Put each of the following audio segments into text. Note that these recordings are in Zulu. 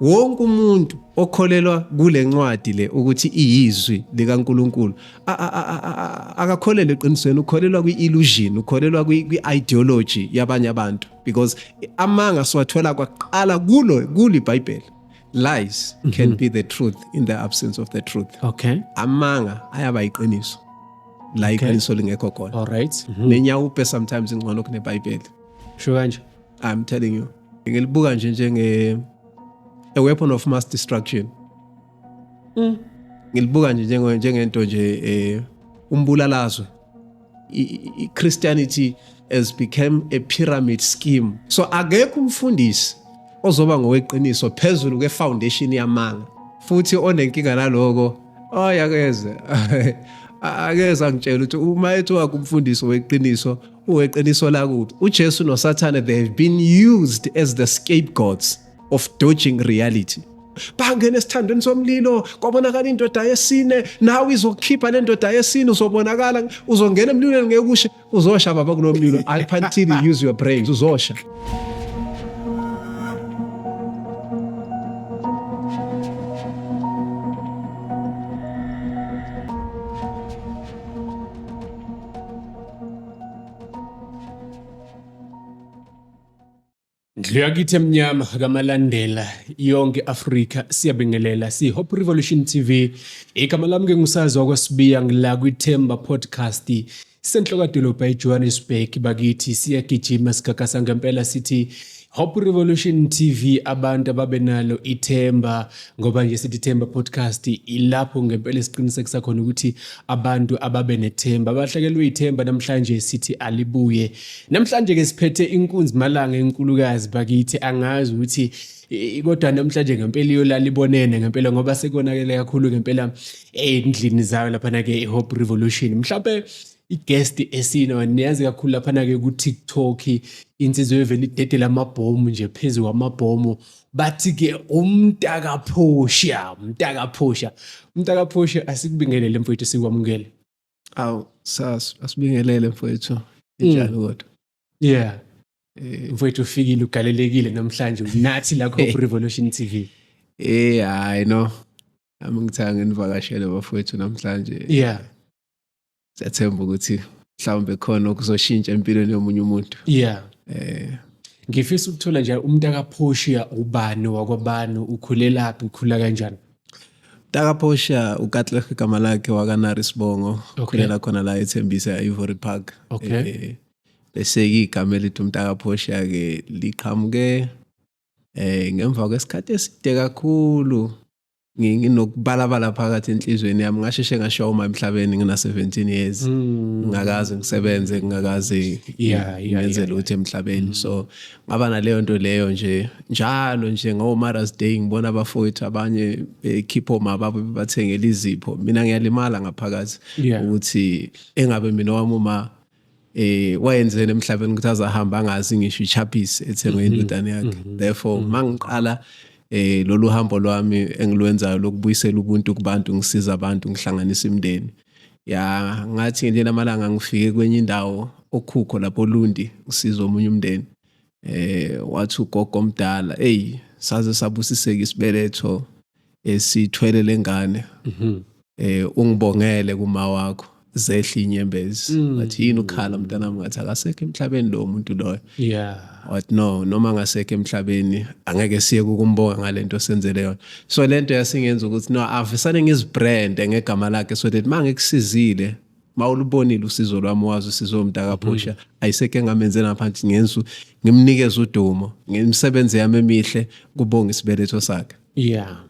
wonke umuntu okholelwa kule ncwadi le ukuthi iyizwi likaNkuluNkulu akakholelwa eqinisweni ukholelwa kwi-illusion ukholelwa kwi-ideology yabanye abantu because amanga siwathola kwaqala kulo kuli bhayibheli lies mm -hmm. can mhm. be the truth in the absence of the truth okay amanga ayaba yiqiniso la iqiniso okay. lingekho khona all right mm -hmm. nenyawupe sometimes ingcono kunebhayibheli sho kanje I'm telling you. Ngilibuka nje njenge a weapon of mass destruction. Mm. Ngilibuka nje njenge njengento nje eh umbulalazwe. Christianity has become a pyramid scheme. So akekho umfundisi ozoba ngoweqiniso phezulu ke foundation yamanga. Futhi onenkinga naloko oyakeze. akeza ngitshela ukuthi uma ethi wakumfundisi weqiniso Uweqiniso lakubi. UJesu noSathane they have been used as the scapegoats of dodging reality. bangena esithandweni somlilo kwabonakala indoda yesine nawe izokhipha le ndoda yesine uzobonakala uzongena emlilweni ngeke ushe uzosha baba kulo mlilo until use your brains uzosha Ndlu yakithi emnyama kamalandela yonke Afrika siyabingelela si Hope Revolution TV igama lami ke ngusazi wakwasibiya ngila kwithemba podcast senhlokadolobha eJohannesburg bakithi siyagijima sigagasa ngempela sithi Hope Revolution TV abantu ababenalo ithemba ngoba nje sithi ithemba podcast ilapho ngempela siqinisekisa khona ukuthi abantu ababe nethemba abahlakelwe ithemba namhlanje sithi alibuye namhlanje ke siphethe inkunzi malanga enkulukazi bakithi angazi ukuthi kodwa namhlanje ngempela iyolala ibonene ngempela ngoba sekonakele kakhulu ngempela endlini zayo laphana ke iHope Revolution mhlawumbe i-guest esino niyazi kakhulu laphana-ke ku-tiktok insizwa evele idedela amabhomu nje phezu kwamabhomu bathi-ke umntakaphosha umntakaphosha umntakaphosha asikubingelele mfowethu sikwamukele awu sas asibingelele mfowethu injalo mm. kodwa yeah eh. mfowethu ufikile ugalelekile namhlanje unathi la Hope Revolution TV eh hayi no Ami ngithanga nginivakashele bafowethu namhlanje. Yeah. Siyathemba ukuthi mhlawumbe khona okuzoshintsha empilweni yomunye umuntu. Yeah. Eh ngifisa ukuthola nje umuntu akaphoshiya ubani wakwabani ukhulelaphi ukhula kanjani takaphosha ukatleh igama lakhe wakanari sibongo ukhulela okay. khona la ethembisa e-ivory park okay. e, eh, bese-ke igama elithi umntakaphosha-ke liqhamuke eh ngemva kwesikhathi eside kakhulu nginokubalabala phakathi enhlizweni yami ngasheshe ngashoma emhlabeni ngina 17 years hmm. ngingakaze ngisebenze ngingakaze ngenze lutho emhlabeni hmm. so ngaba naleyo nto leyo nje njalo nje ngo Mother's Day ngibona abafowethu abanye bekhipha omama babo bathengele izipho mina ngiyalimala ngaphakathi ukuthi engabe mina wami uma eh wayenzeni emhlabeni ukuthi azahamba angazi ngisho ichapis ethengwe mhm. indodana yakhe mhm. therefore mhm. mangiqala eh lolu hambo lwami engilwenzayo lokubuyisela ubuntu kubantu ngisiza abantu ngihlanganisa imindeni ya ngathi nje namalanga ngifike kwenye indawo okhukho lapho Lundi ngisiza omunye umndeni eh wathi ugogo omdala hey saze sabusiseka isibeletho esithwele lengane mhm. eh ungibongele kuma wakho zehla inyembezi mm. but yini ukhala mntanami ngathi akasekho emhlabeni lo muntu loyo yeah what no noma ngasekho emhlabeni angeke siye ukumbonga ngalento senzele yona so lento yasingenza ukuthi no avesane ngizibrand ngegama lakhe so that mangekusiza mawulubonile usizo lwami wazi usizo mntakaphusha mhm. ayiseke ngamenzela phansi ngensu ngimnikeza udumo ngemisebenzi yami emihle kubonga isibeletho sakhe yeah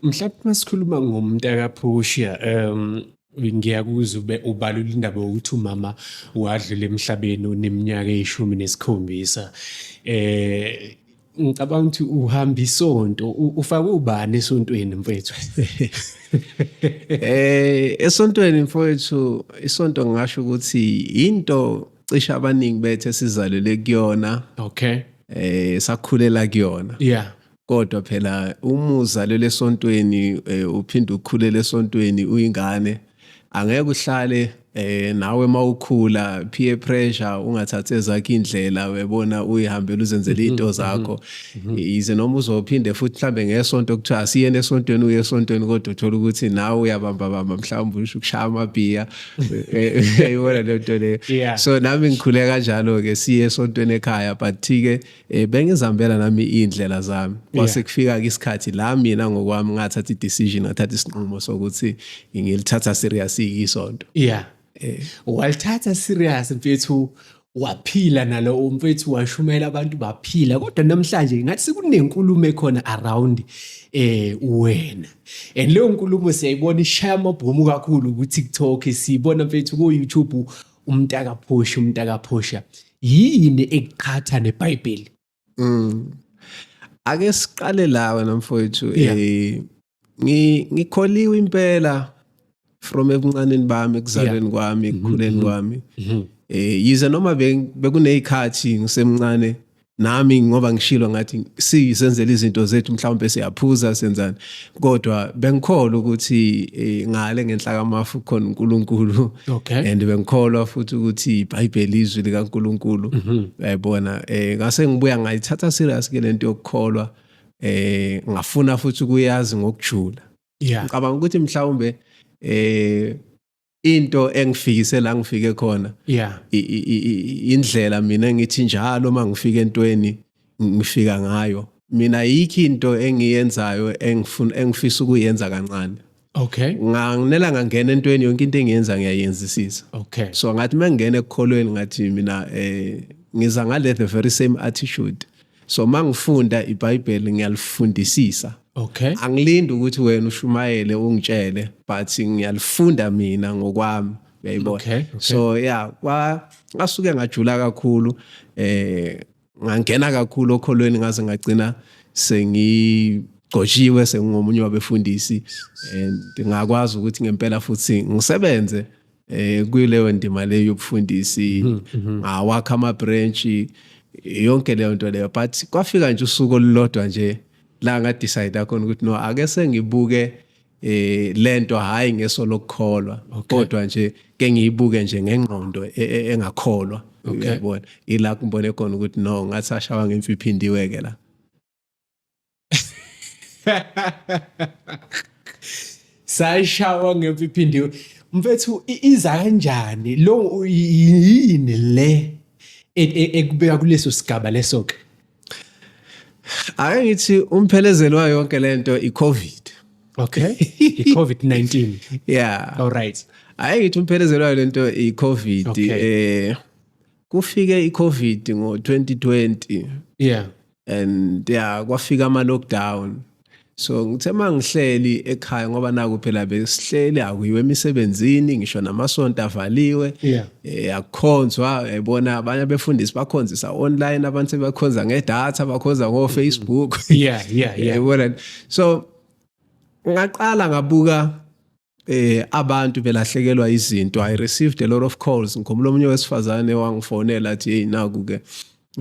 mhlawumbe masikhuluma ngomntakaphusha um ngiyakuzwa ube ubalula indaba yokuthi umama wadlula emhlabeni uneminyaka eyishumi nesikhombisa eh ngicabanga ukuthi uhamba isonto ufake ubani esontweni mfethu eh esontweni mfethu isonto ngisho ukuthi into cisha abaningi bethu esizalele kuyona okay eh sakhulela kuyona yeah kodwa phela uma uzalele esontweni eh, uphinde ukhulela esontweni uyingane angeke uhlale eh nawe mawukhula peer pressure ungathathi ezakhe indlela webona uyihambela uzenzele mhm, into zakho mhm, mhm. yize noma uzophinde futhi mhlambe ngesonto kuthiwa asiyene esontweni uye esontweni kodwa uthola ukuthi nawe uyabamba bamba mhlawumbe usho ukushaya amabhiya eyona lento leyo so nami ngikhule kanjalo ke siye esontweni ekhaya but ke eh bengizambela nami indlela zami kwase kufika ke isikhathi la mina ngokwami ngathatha i-decision ngathatha isinqumo sokuthi ngilithatha serious isonto yeah eh. walithatha serious mfethu waphila nalo umfethu washumela abantu baphila kodwa namhlanje ngathi sekunenkulumo ekhona around eh wena and leyo nkulumo siyayibona ishaya amabhomu kakhulu ku TikTok siyibona mfethu ku YouTube umntaka phosha umntaka phosha yini ekuqhatha neBhayibheli mm. ake siqale la wena mfowethu yeah. eh ngikholiwe impela from ebuncaneni bami ekuzalweni yeah. kwami mm-hmm, ekukhuleni mm-hmm. kwami mm -hmm. eh yize noma bekunezikhathi ngisemncane nami ngoba ngishilo ngathi sisenzela izinto zethu mhlawumbe siyaphuza senzani kodwa bengikholwa ukuthi eh, ngale ngenhla kamafu khona uNkulunkulu okay and bengikholwa futhi ukuthi iBhayibheli izwi likaNkulunkulu mhm. yayibona eh ngase ngibuya ngayithatha serious ke lento yokukholwa eh ngafuna futhi ukuyazi ngokujula yeah ngicabanga ukuthi mhlawumbe eh into engifikise la ngifike khona yeah indlela mina ngithi njalo uma ngifika entweni ngifika ngayo mina yikho into engiyenzayo engifuna engifisa ukuyenza kancane okay nganginela ngangena entweni yonke into engiyenza ngiyayenzisisa okay so ngathi mangingena ekukholweni ngathi mina eh ngiza ngale the very same attitude so mangifunda iBhayibheli ngiyalifundisisa okay angilindi ukuthi wena ushumayele ungitshele but ngiyalifunda mina ngokwami uyayibona okay, okay. so yeah kwa ngasuke ngajula kakhulu eh ngangena kakhulu okholweni ngaze ngagcina sengi gqoshiwe sengingomunye wabefundisi and ngakwazi ukuthi ngempela futhi ngisebenze eh kuyileyo ndima leyo yobufundisi mhm, mhm. ngawakha ama branch yonke leyo nto leyo but kwafika nje usuku olulodwa nje la nga decide khona ukuthi no ake sengibuke eh lento hayi ngeso lokukholwa kodwa nje ke ngiyibuke nje ngengqondo e, e, engakholwa uyabona ila kumbone khona ukuthi no ngathi ashawa ngemfiphindiwe ke la sayishawa ngempi iphindiwe mfethu iza kanjani lo yini le e, e, ekubeka kuleso sigaba leso ke ake ngithi umphelezelo wayo yonke lento icovid okay icovid-19 yeah all right ake ngithi umphelezelo wayo lento icovid okay. eh kufike iCovid ngo2020 yeah and yeah kwafika ama lockdown so ngithe mangihleli ekhaya ngoba naku phela besihleli akuyiwe emisebenzini ngisho namasonto avaliwe yeah eh, akukhonzwa ebona abanye abefundisi bakhonzisa online abantu sebakhonza ngedata bakhonza ngo Facebook yeah yeah yeah so ngaqala ngabuka eh abantu belahlekelwa izinto i received a lot of calls ngikhumbula omunye wesifazane wangifonela athi hey naku ke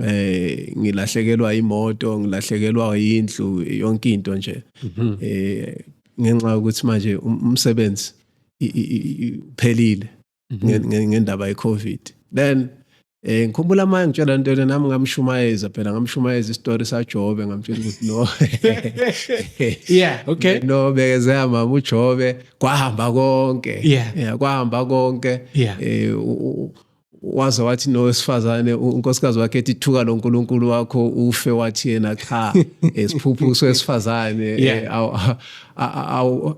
eh ngilahlekelwa imoto ngilahlekelwa indlu yonke into nje mhm. eh ngenxa ukuthi manje um, umsebenzi uphelile mhm. ngendaba ye-covid then Eh ngikhumbula manje ngitshela into yena nami ngamshumayeza phela ngamshumayeza istory saJobe ngamtshela ukuthi no. Yeah, okay. No bekezela mama uJobe kwahamba konke. Yeah, yeah kwahamba konke. Yeah. Eh waze wathi nowesifazane unkosikazi wakhe ethi thuka lo nkulunkulu wakho ufe wathi yena cha esiphuphuso esifazane eh, awu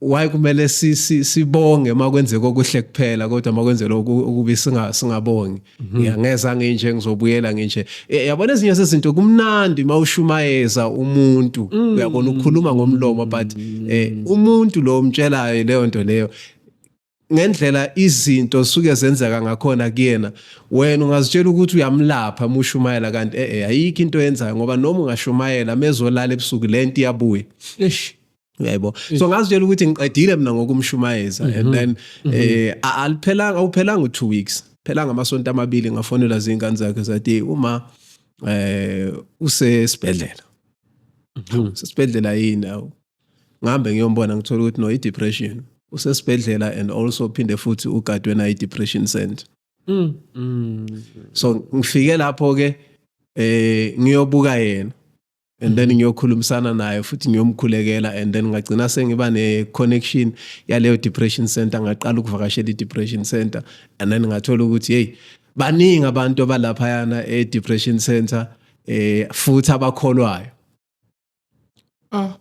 why kumele sibonge uma kwenzeka okuhle kuphela kodwa uma kwenzela okubi singabongi mhm. ya ngeza nginje ngizobuyela nginje e, yabona ezinye sezinto kumnandi uma ushumayeza umuntu mm. uyabona ukhuluma ngomlomo but e, umuntu lo omtshelayo leyo nto leyo ngendlela izinto suke zenzeka ngakhona kuyena wena ungazitshela ukuthi uyamlapha mushumayela kanti eh, eh ayikho into yenzayo ngoba noma ungashumayela mezolala ebusuku lento iyabuya eish uyayibona so ngazitshela ukuthi ngiqedile mina ngokumshumayeza and mhm. then mhm. eh aliphelanga awuphelanga u2 weeks phelanga amasonto amabili ngafonela zingane zakhe zathi uma eh usesibhedlela mhm. sesibhedlela yini awu ngihambe ngiyombona ngithola ukuthi no i-depression usesibhedlela and also phinde futhi ugadwe nayo i-depression center mm. Mm. so ngifike lapho-ke eh ngiyobuka yena and then ngiyokhulumisana naye futhi ngiyomkhulekela and then ngagcina sengiba ne-connection yaleyo depression center ngaqala ukuvakashela i-depression center and then ngathola ukuthi yeyi baningi abantu abalaphayana e-depression center eh futhi abakholwayo ah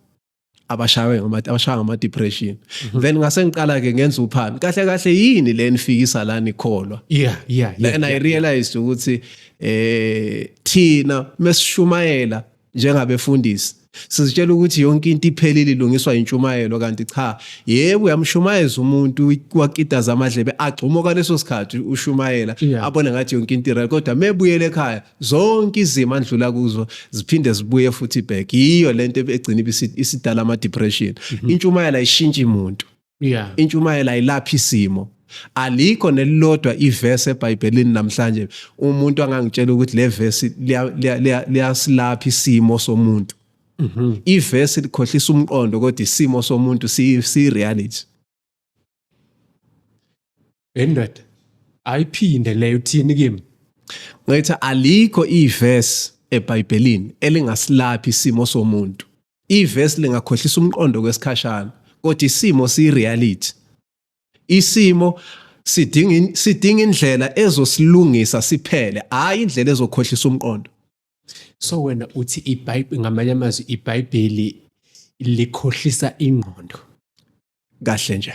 abashawe ngama abashawa ngama depression mhm. then ngase ngiqala ke ngenza uphando kahle kahle yini le nifikisa la nikholwa yeah yeah yeah and i realized ukuthi eh thina mesishumayela njengabefundisi sizitshela ukuthi yonke into iphelile ilungiswa intshumayelo kanti cha yebo uyamshumayeza umuntu wakitaza amadlebe agxuma kwaleso sikhathi ushumayela abone ngathi yonke into ireal kodwa mebuyele ekhaya zonke izimo andlula kuzo ziphinde zibuye futhi back yiyo lento egcina isidala ama depression mhm. intshumayela ishintsha umuntu yeah intshumayela ilapha isimo alikho nelilodwa iverse eBhayibhelini namhlanje umuntu angangitshela ukuthi le verse liyasilapha isimo somuntu mhm. iverse likhohlisa umqondo kodwa isimo somuntu si reality Endoda ayiphinde leyo uthini kimi? Ngithi alikho iverse eBhayibhelini elingasilaphi isimo somuntu. Iverse lingakhohlisa umqondo kwesikhashana, kodwa isimo siyireality. Isimo sidinga sidinga indlela ezosilungisa siphele, hayi indlela ezokhohlisa umqondo. So wena uthi iBhayibheli ngamanye amazwi iBhayibheli likhohlisa ingqondo. Kahle nje.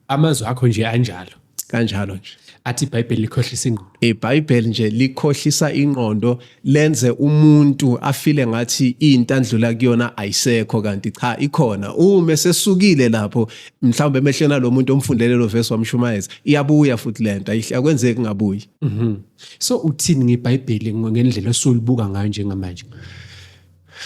Amazwi akho nje anjalo. Kanjalo nje. Athi iBhayibheli likhohlisa ingqondo. IBhayibheli nje likhohlisa ingqondo lenze umuntu afile ngathi into andlula kuyona ayisekho kanti cha ikhona. Uma sesukile lapho mhlawumbe emehlweni alomuntu omfundele lo verse wamshumayeza iyabuya futhi lento ayihle akwenzeki ngabuyi. Mhm. so uthini ngebhayibheli ngendlela osolibuka ngayo njengamanje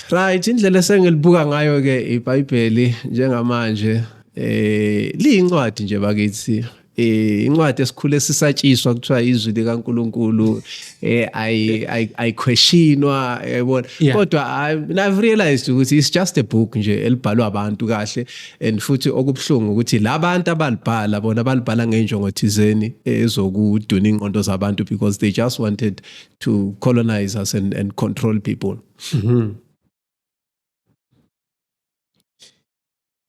right indlela esengilibuka ngayo ke ibhayibheli njengamanje eh liyincwadi nje bakithi eh incwadi esikhule sisatshiswa kuthiwa izwi likaNkuluNkulu eh i i questionwa yabona kodwa i've realized ukuthi it's just a book nje elibhalwa abantu kahle and futhi okubuhlungu ukuthi labantu abalibhala bona balibhala ngenjongo thizeni ezokuduna ingqondo zabantu because they just wanted to colonize us and, and control people mm -hmm.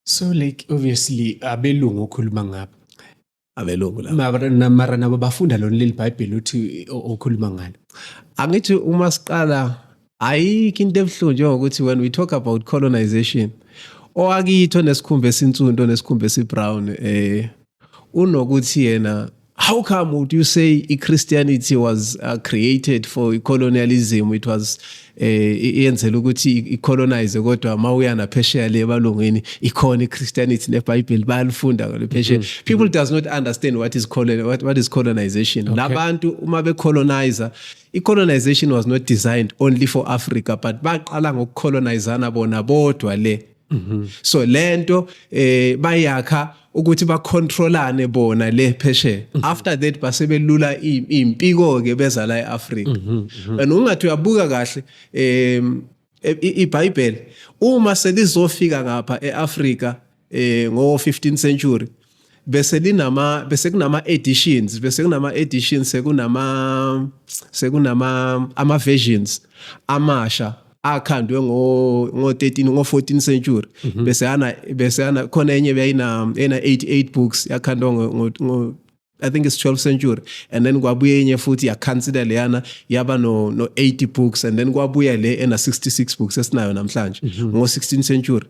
so like obviously abelungu okhuluma ngabo abelungu la mara nabo bafunda lona leli bhayibheli uthi okhuluma ngalo angithi uma siqala ayikho into ebuhlungu njengokuthi when we talk about colonization owakitho nesikhumba esinsundu nesikhumba esibrown eh unokuthi yena how come would you say i-christianity was uh, created for colonialism it was eh iyenzela ukuthi icolonize kodwa mawuya naphesheya le balungwini ikhona iChristianity neBible balifunda ngale phesheya mm-hmm. people does not understand what is colon what, what is colonization labantu uma becolonizer icolonization was not designed only for Africa but baqala ngokucolonizana bona bodwa le mhm. so lento eh bayakha ukuthi bacontrolane bona le phesheya mhm. after that base belula impiko ke beza la eAfrika mhm, and ungathi uyabuka kahle em e, iBhayibheli uma selizofika ngapha eAfrika eh ngo 15th century bese linama bese kunama editions bese kunama editions sekunama sekunama ama versions amasha akhandwe ngo ngo 13 ngo 14 century mhm. bese ana bese ana khona enye beyina ena 88 books yakhandwa ngo ngo I think it's 12th century and then kwabuye enye futhi yakhansida leyana yaba no no 80 books and then kwabuya le ena 66 books esinayo namhlanje mhm. ngo 16th century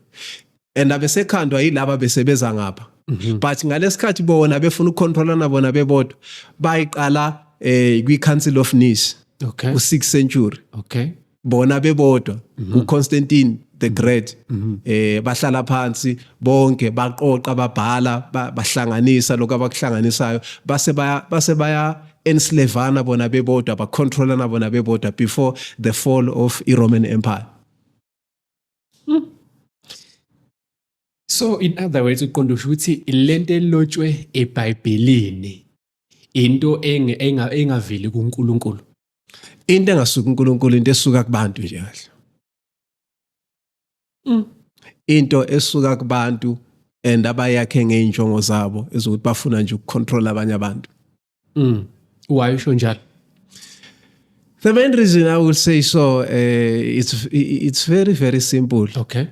and abesekhandwa yilaba besebeza ngapha mhm. but ngalesikhathi bona befuna ukucontrolana bona bebodwa bayiqala eh kwi Council of Nice okay u 6th century okay bona bebodwa mhm. u Constantine the great mhm. eh bahlala phansi bonke baqoqa babhala bahlanganisa lokho abakuhlanganisayo base baya base baya enslavana bona bebodwa bacontrolana bona bebodwa before the fall of i Roman Empire Hmm. So in other words uqonda usho ukuthi lento elotshwe eBhayibhelini into engaveli kuNkulunkulu. Into engasuka uNkulunkulu into esuka kubantu nje kahle. Hmm. Into esuka kubantu and abayakhe ngeenjongo zabo ezokuthi bafuna nje ukucontrol abanye abantu. mm. why usho njalo the main reason i will say so uh, it's, it's very very simple okay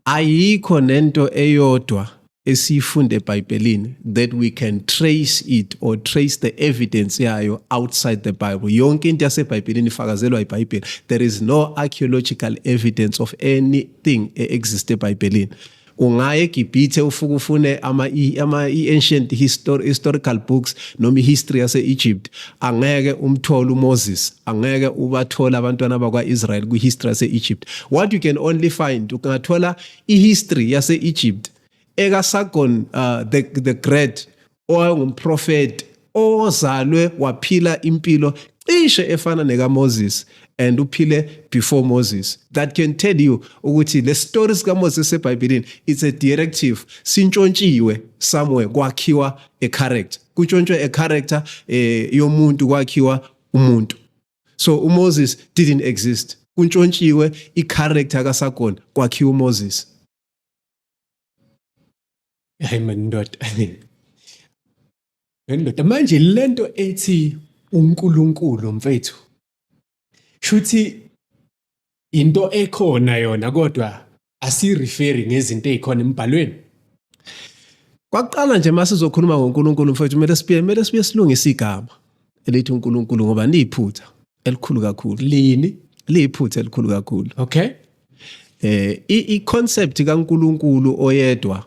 ayikho nento eyodwa esiyifunde ebhayibhelini that we can trace it or trace the evidence yayo outside the bible yonke into yasebhayibhelini ifakazelwa ibhayibheli there is no archaeological evidence of anything e-existe ebhayibhelini ungaya eGibhithe ufuke ufune ama ama ancient histor, historical books noma ihistory yase Egypt angeke umthole uMoses angeke ubathole abantwana bakwa Israel kwi history yase Egypt what you can only find ungathola ihistory yase Egypt eka Sargon uh, the the great owayengumprofeti ozalwe waphila impilo cishe efana nekaMoses and uphile before Moses that can tell you ukuthi le story sikaMoses eBhayibhelini it's a directive sintshontshiwe somewhere kwakhiwa a character kutshontshwe a character eh, yomuntu kwakhiwa umuntu so uMoses didn't exist kuntshontshiwe i-character kaSagona kwakhiwa uMoses hayi mandoda ndoda manje lento ethi uNkulunkulu mfethu shuthi into ekhona yona kodwa asireferi ngezinto ezikhona emibhalweni kwakuqala nje uma sizokhuluma ngoNkulunkulu mfethu kumele sibuye kumele sibuye silungise igama elithi uNkulunkulu ngoba liyiphutha elikhulu kakhulu lini liyiphutha elikhulu kakhulu okay eh i concept kaNkuluNkulu oyedwa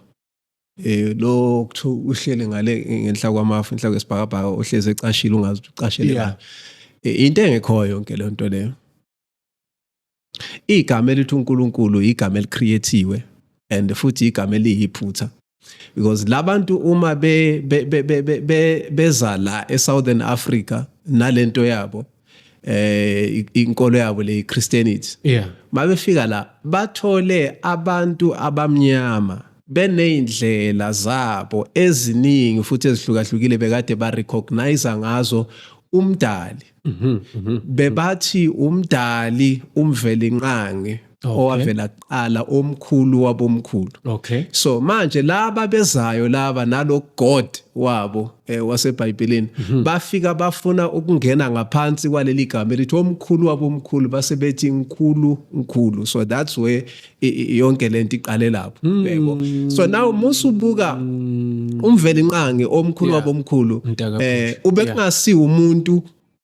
eh lo kuthiwa uhlele ngale ngenhla kwamafu inhla kwesibhakabhaka ohleze ecashile ungazi ucashele yeah. Eh, into engekhoyo yonke le nto leyo igama elithi uNkulunkulu igama elicreatiwe and futhi igama eliyiphutha because labantu uma be beza la eSouthern Africa nalento yabo eh inkolo yabo le Christianity yeah mabefika la bathole abantu abamnyama beneyindlela zabo eziningi futhi ezihlukahlukile bekade ba recognize ngazo umdali Mhm, mhm. bebathi umdali umvelinqangi Okay. owavela kuqala omkhulu wabomkhulu Okay. so manje laba bezayo laba nalo god wabo eh, wasebhayibhelini Mhm. bafika bafuna ukungena ngaphansi kwaleli gama elithi omkhulu wabomkhulu base bethi nkulu nkulu so that's where yonke lento iqale lapho hmm. yebo so now musubuka hmm. umveli nqangi omkhulu wabomkhulu eh ubekungasiwa umuntu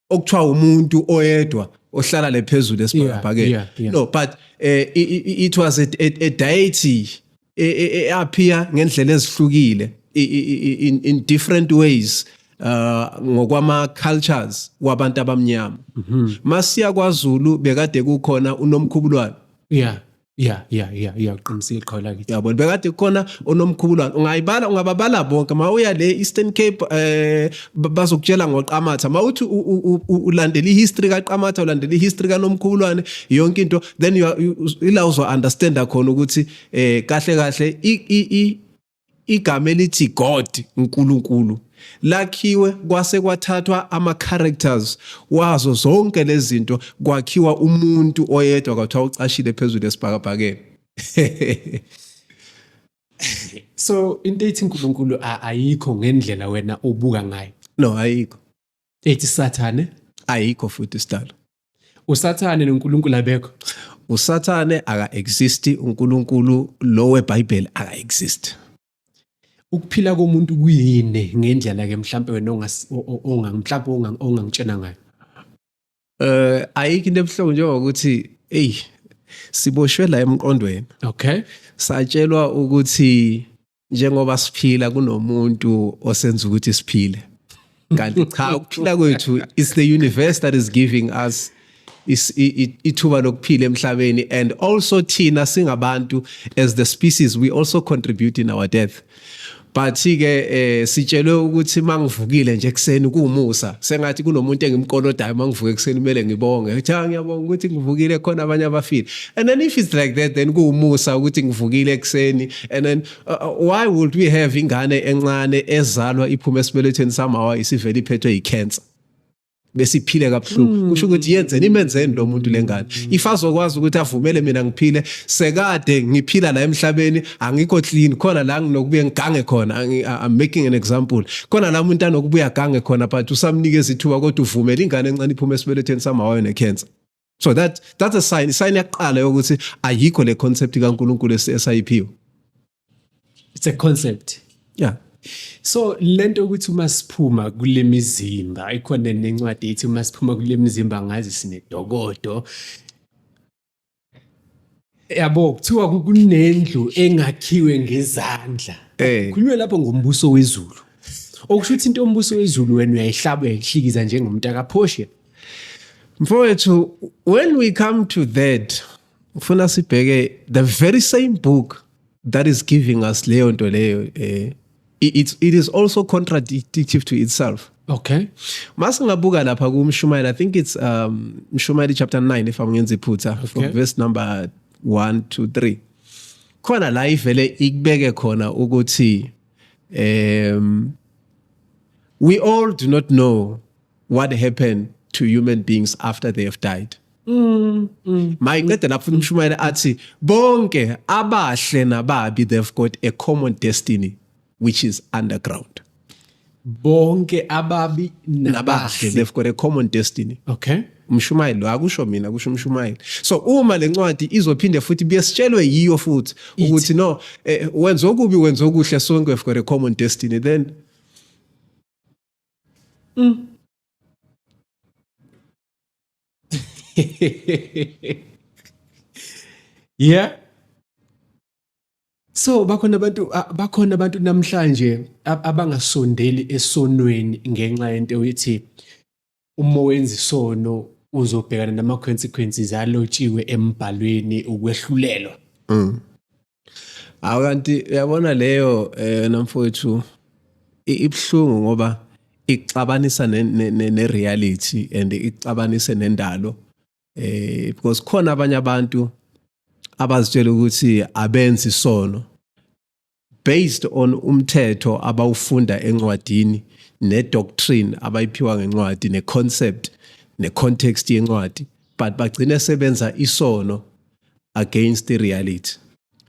okuthiwa umuntu oyedwa ohlala le phezulu esibhakabhakeni yeah, yeah, yeah. no but uh, it, it was a, a, a deity eappear e, e, ngendlela ezihlukile in, in different ways uh ngokwama cultures kwabantu abamnyama mm -hmm. masiya kwaZulu bekade kukhona unomkhubulwane yeah Yeah yeah yeah yeah uqinisile iqhawe lakithi. Yabona bekade kukhona onomkhubulwana ungayibala ungababala bonke mawuya le Eastern Cape eh bazokutshela ngoqamatha mawuthi ulandela ihistory kaqamatha ulandela ihistory kanomkhubulwane yonke into then ila uzo understand khona ukuthi eh kahle kahle i Igama elithi God, uNkulunkulu, lakhiwe kwase kwathathwa ama-characters wazo zonke lezi zinto kwakhiwa umuntu oyedwa kwathiwa ucashile phezulu esibhakabhakeni. So into ethi uNkulunkulu ayikho ngendlela wena obuka ngayo. No, ayikho. ethi sathane ayikho futhi isidalo usathane noNkulunkulu abekho usathane aka exist uNkulunkulu lo weBhayibheli aka exist ukuphila komuntu kuyini ngendlela ke mhlambe wena onga mhlambe ongangitshena ngayo eh ayikho into ebuhlungu njengokuthi hey siboshwe la emqondweni okay satshelwa ukuthi njengoba siphila kunomuntu osenza ukuthi siphile kanti cha ukuphila kwethu is the universe that is giving us ithuba lokuphila emhlabeni and also thina singabantu as the species we also contribute in our death but ke eh sitshelwe ukuthi mangivukile nje ekseni kumusa sengathi kunomuntu engimkolodayo mangivuke ekseni kumele ngibonge uthi ah, ngiyabonga ukuthi ngivukile khona abanye abafile and then if it's like that then kumusa ukuthi ngivukile ekseni and then uh, uh, why would we have ingane encane ezalwa iphume esibelethweni samawa isivele iphethwe yicancer besiphile kabuhlungu hmm. kusho ukuthi yenzeni imenzeni lo muntu lengane if azokwazi ukuthi avumele mina ngiphile sekade ngiphila la emhlabeni angikho clean khona la nginokubuye ngigange khona i'm making an example khona la umuntu anokubuya gange khona but usamnikeza ithuba kodwa uvumela ingane encane iphume esibelethweni samawayo necancer so that that's a sign sign yaqala yokuthi ayikho le concept kaNkuluNkulu esayiphiwe it's a concept yeah so lento ukuthi uma siphuma kulemizimba ikhona nencwadi ethi uma siphuma kulemizimba ngazi sinedokodo yabo kuthiwa ku- kunendlu engakhiwe ngezandla Eh. khulunywe lapho ngombuso wezulu okusho ukuthi into yombuso wezulu wena uyayihlaba uyayihlikiza njengomuntu akaphoshe mfowethu when we come to that ufuna sibheke the very same book that is giving us leyo nto leyo um it, it is also contradictive to itself okay masingabuka lapha kumshumayeli i think it's um mshumayeli chapter 9 if angenza iphutha okay. from verse number 1 to 3 khona la ivele ikubeke khona ukuthi um we all do not know what happened to human beings after they have died Mm, mm, mayincede lapho umshumayeli athi bonke abahle nababi they've got a common destiny which is underground bonke ababi nabahle they've got a common destiny okay umshumayeli lo akusho mina kusho umshumayeli so uma le ncwadi izophinde futhi biyesitshelwe yiyo futhi ukuthi no eh, wenza okubi wenza okuhle sonke we've got a common destiny then Mm. yeah so bakhona abantu bakhona abantu namhlanje abangasondeli esonweni ngenxa yento ethi Uma wenza isono uzobhekana nama consequences alotshiwe embhalweni ukwehlulelwa. Mm. Akanti uyabona leyo eh namfowethu ibhlungu ngoba ixabanisa ne, ne, ne, ne reality and ixabanise nendalo eh because khona abanye abantu abazitshela ukuthi abenzi isono based on umthetho abawufunda encwadini ne doctrine abayiphiwa ngencwadi ne concept ne context yencwadi but bagcine sebenza isono against the reality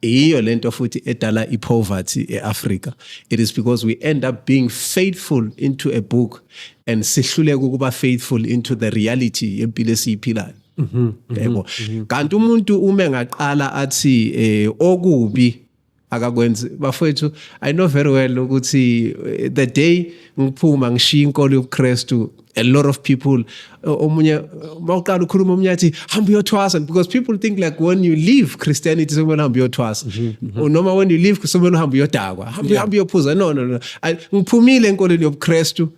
yiyo lento futhi edala ipoverty eAfrica it is because we end up being faithful into a book and sihluleka ukuba faithful into the reality yempilo esiyiphilayo mhm, mhm, yebo mhm. kanti umuntu uma engaqala athi eh okubi akakwenzi bafowethu i know very well ukuthi eh, the day ngiphuma ngishiya inkolo yobuKristu a lot of people eh, omunye mawuqala ukhuluma omunye athi hamba uyothwasa because people think like when you leave christianity sokumele hamba uyothwasa mhm, mhm. noma when you leave sokumele uhamba uyodakwa hamba uhamba uyophuza no no no ngiphumile enkolweni yobuKristu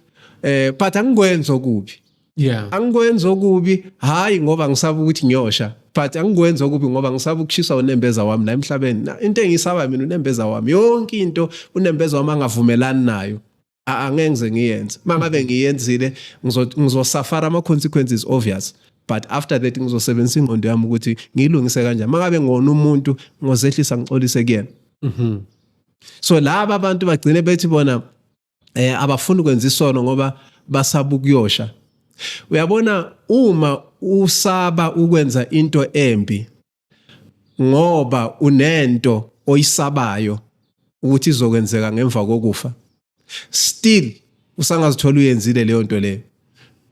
eh but angikwenza okubi yeah angikwenza okubi hayi ngoba ngisaba ukuthi ngiyosha but angikwenza okubi ngoba ngisaba ukushiswa unembeza wami la emhlabeni into engisaba mina unembeza wami yonke into unembeza wami angavumelani nayo angeke ngize ngiyenze mangabe ngiyenzile ngizosafara ama consequences obvious but after that ngizosebenzisa ingqondo yami ukuthi ngilungise kanjani mangabe ngona umuntu ngozehlisa ngicolise kuyena mhm. so laba abantu bagcine bethi bona eh abafuni kwenza isono ngoba basaba ukuyosha uyabona uma usaba ukwenza into embi ngoba unento oyisabayo ukuthi izokwenzeka ngemva kokufa still usangazithola uyenzile leyo nto leyo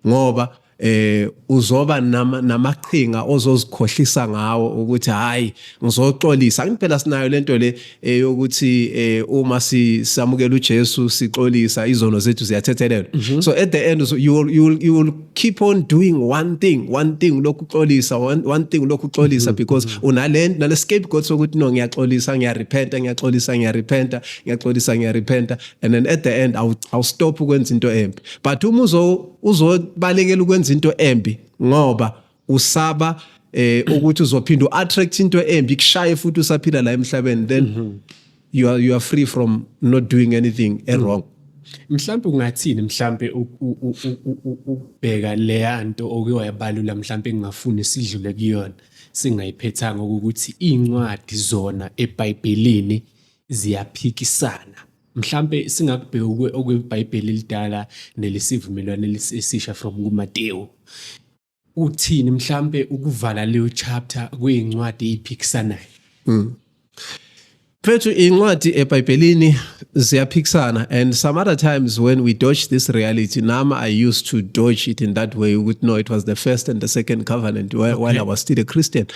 ngoba eh uzoba namaqhinga ozozikhohlisa ngawo ukuthi hayi ngizoxolisa ngiphela sinayo lento le eyokuthi eh, eh, uma sisamukela uJesu sixolisa izono zethu ziyathethelelwa mhm. so at the end you will, you will, you will keep on doing one thing one thing lokuxolisa one, one thing lokuxolisa mhm. because mhm. unalento nale scapegoat sokuthi no ngiyaxolisa ngiyarepenta ngiyaxolisa ngiyarepenta ngiyaxolisa ngiyarepenta and then at the end awu stop ukwenza into embi but uma uzo uzobalekela ukwenza into embi ngoba usaba eh ukuthi uzophinda uattract into embi kushaye futhi usaphila la emhlabeni then mm -hmm. you are you are free from not doing anything mm -hmm. wrong mhlawumbe ungathini mhlawumbe ukubheka leya nto oke wayabalula mhlawumbe engingafuni sidlule kuyona singayiphethanga ukuthi iy'ncwadi zona ebhayibhelini ziyaphikisana Mhlampe singakubheka okweBhayibheli elidala nelesivumelwano esisha from kuMatewu. Uthini mhlampe ukuvala leyo chapter kuyincwadi eyiphikisanayo? Mm. Mfethu incwadi eBhayibhelini ziyaphikisana and some other times when we dodge this reality nam I used to dodge it in that way ukuthi no it was the first and the second covenant while, okay. while I was still a Christian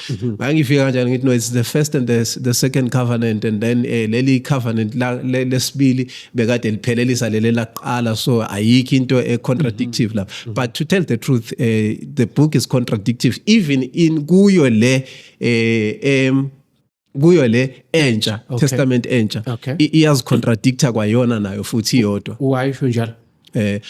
ngangifika kanjani ngithi no it's the first and the, the second covenant and then eh, leli covenant lesibili bekade liphelelisa leli laqala so ayikho into e contradictive la mm-hmm. but to tell the truth eh, the book is contradictive even in kuyo le eh, em kuyo le entsha okay. testament entsha okay. iyazicontradicta kwayona nayo futhi iyodwa wayisho njalo eh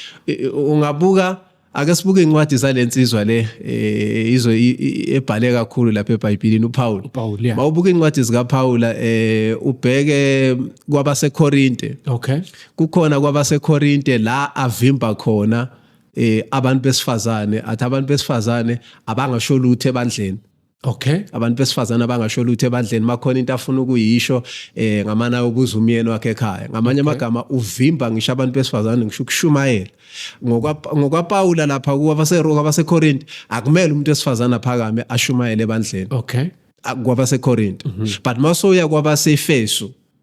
ungabuka Ake sibuke incwadi zalensizwa le eh, izwe ebhale kakhulu lapha eBhayibhelini uPaul. uPaul yeah. Mawubuka incwadi zika Paul eh ubheke kwabaseKorinte. Okay. Kukhona kwabaseKorinte la avimba khona eh abantu besifazane athi abantu besifazane abangasho lutho ebandleni. Okay. Abantu besifazana bangasho lutho ebandleni makhona into afuna ukuyisho eh ngamana ubuza umyeni wakhe ekhaya. Ngamanye amagama okay. uvimba ngisho abantu besifazana ngisho ukushumayela. Ngokwa ngokwa Paul lapha kuwa baseRoma baseKorinte akumele umuntu esifazana phakame ashumayele ebandleni. Okay. Kwaba seKorinte. Mm -hmm. But masoya kwaba seEfesu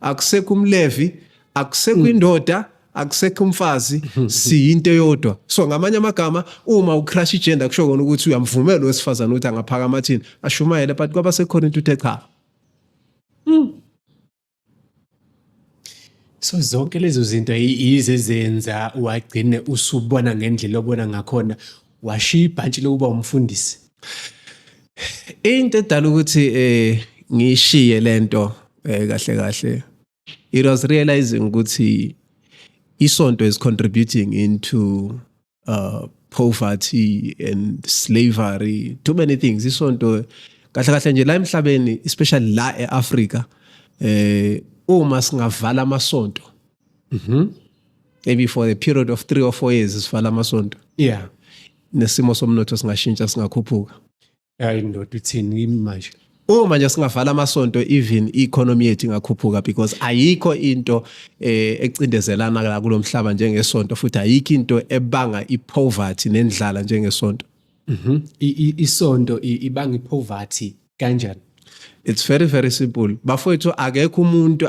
akusekho umlevi akusekho indoda akusekho umfazi siyinto eyodwa so ngamanye amagama uma ucrash igender kusho kona ukuthi uyamvumela owesifazane ukuthi angaphakama athini ashumayele but kwaba sekhona into uthe cha hmm. so zonke lezo zinto yize zenza wagcine usubona ngendlela obona ngakhona Washiya ibhantshi lokuba umfundisi. Into edala ukuthi eh ngishiye lento eh kahle kahle. It was realizing ukuthi isonto is contributing into uh poverty and slavery too many things isonto kahle kahle nje la emhlabeni especially la eAfrika eh uma singavala amasonto Mhm. Maybe for the period of 3 or 4 years sivala amasonto. Yeah. Nesimo somnotho singashintsha singakhuphuka. Hayi ndoda uthini manje? uma nje singavala amasonto even i-economy yethu ingakhuphuka because ayikho into eh, ecindezelana la kulo mhlaba njengesonto futhi ayikho into ebanga i-poverty nendlala njengesonto Mhm. I- i- Isonto i- ibanga ipoverty kanjani it's very very simple bafowethu akekho umuntu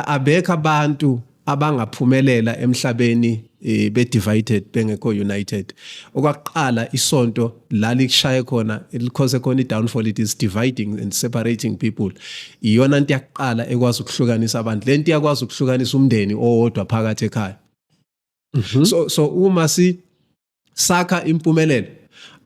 abekho abantu abangaphumelela emhlabeni eh, be divided bengekho united okwakuqala isonto la likushaye khona likhose khona idownfall it is dividing and separating people iyona into yakuqala ekwazi ukuhlukanisa abantu lento iyakwazi ukuhlukanisa umndeni owodwa phakathi ekhaya mm -hmm. so so uma si sakha impumelelo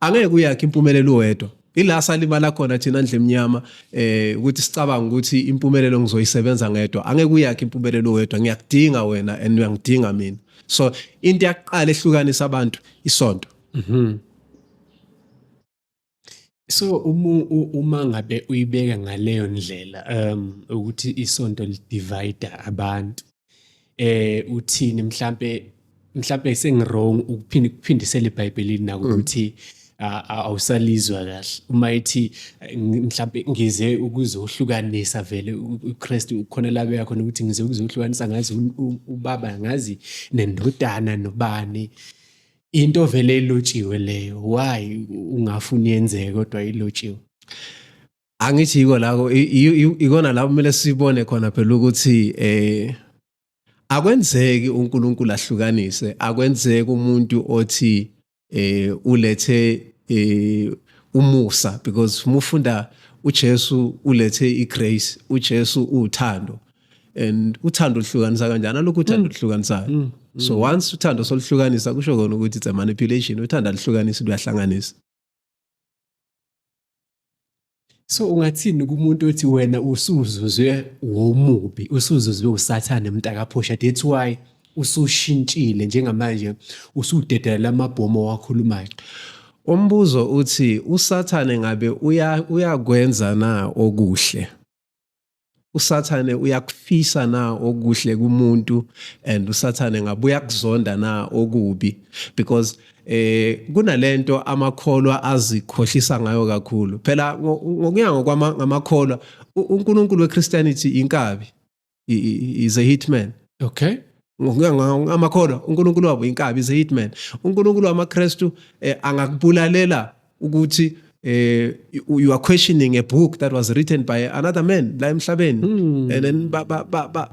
angeke uyakhe impumelelo wedwa ila salimala khona thina ndle emnyama eh ukuthi sicabanga ukuthi impumelelo ngizoyisebenza ngedwa angeke uyakhe impumelelo wedwa ngiyakudinga wena and uyangidinga mina so into yaqala ehlukanisa abantu isonto mhm mm So uma uma ngabe uyibeka ngaleyo ndlela um ukuthi isonto li divide abantu eh uthini mhlambe mhlambe sengirong ukuphinde ukuphindisela eBhayibhelini naku mm. ukuthi awusalizwa kahle uma ithi mhlambe ngize ukuzohlukanisa vele uKristu ukhona labe yakho ukuthi ngize ukuzohlukanisa ngazi ubaba ngazi nendodana nobani into vele ilotshiwe leyo why ungafuni yenzeke kodwa ilotshiwe angithi yiko lako ikona lapho kumele sibone khona phela ukuthi eh akwenzeki uNkulunkulu ahlukanise akwenzeki umuntu othi eh ulethe eh umusa because mufunda uJesu ulethe igrace uJesu uthando and uthando luhlukanisa kanjani alokhu uthando mm. luhlukanisayo mm. mm. so once uthando soluhlukanisa kusho kona ukuthi it's a manipulation uthando aluhlukanisi luyahlanganisa so ungathini kumuntu othi wena usuzuzwe womubi usuzuzwe usathane mntakaphosha that's why usushintshile njengamanje usudedelela amabhomo owakhulumayo umbuzo uthi usathane ngabe uyakwenza na okuhle usathane uyakufisa na okuhle kumuntu and usathane ngabe uyakuzonda na okubi because eh kunalento amakholwa azikhohlisa ngayo kakhulu phela ngokuya ngokwamakholwa uNkulunkulu weChristianity inkabi is a hitman okay ngamakholwa uNkulunkulu wabo inkabi is a hitman uNkulunkulu wamaKristu eh, angakubulalela ukuthi eh, you are questioning a book that was written by another man la emhlabeni hmm. and then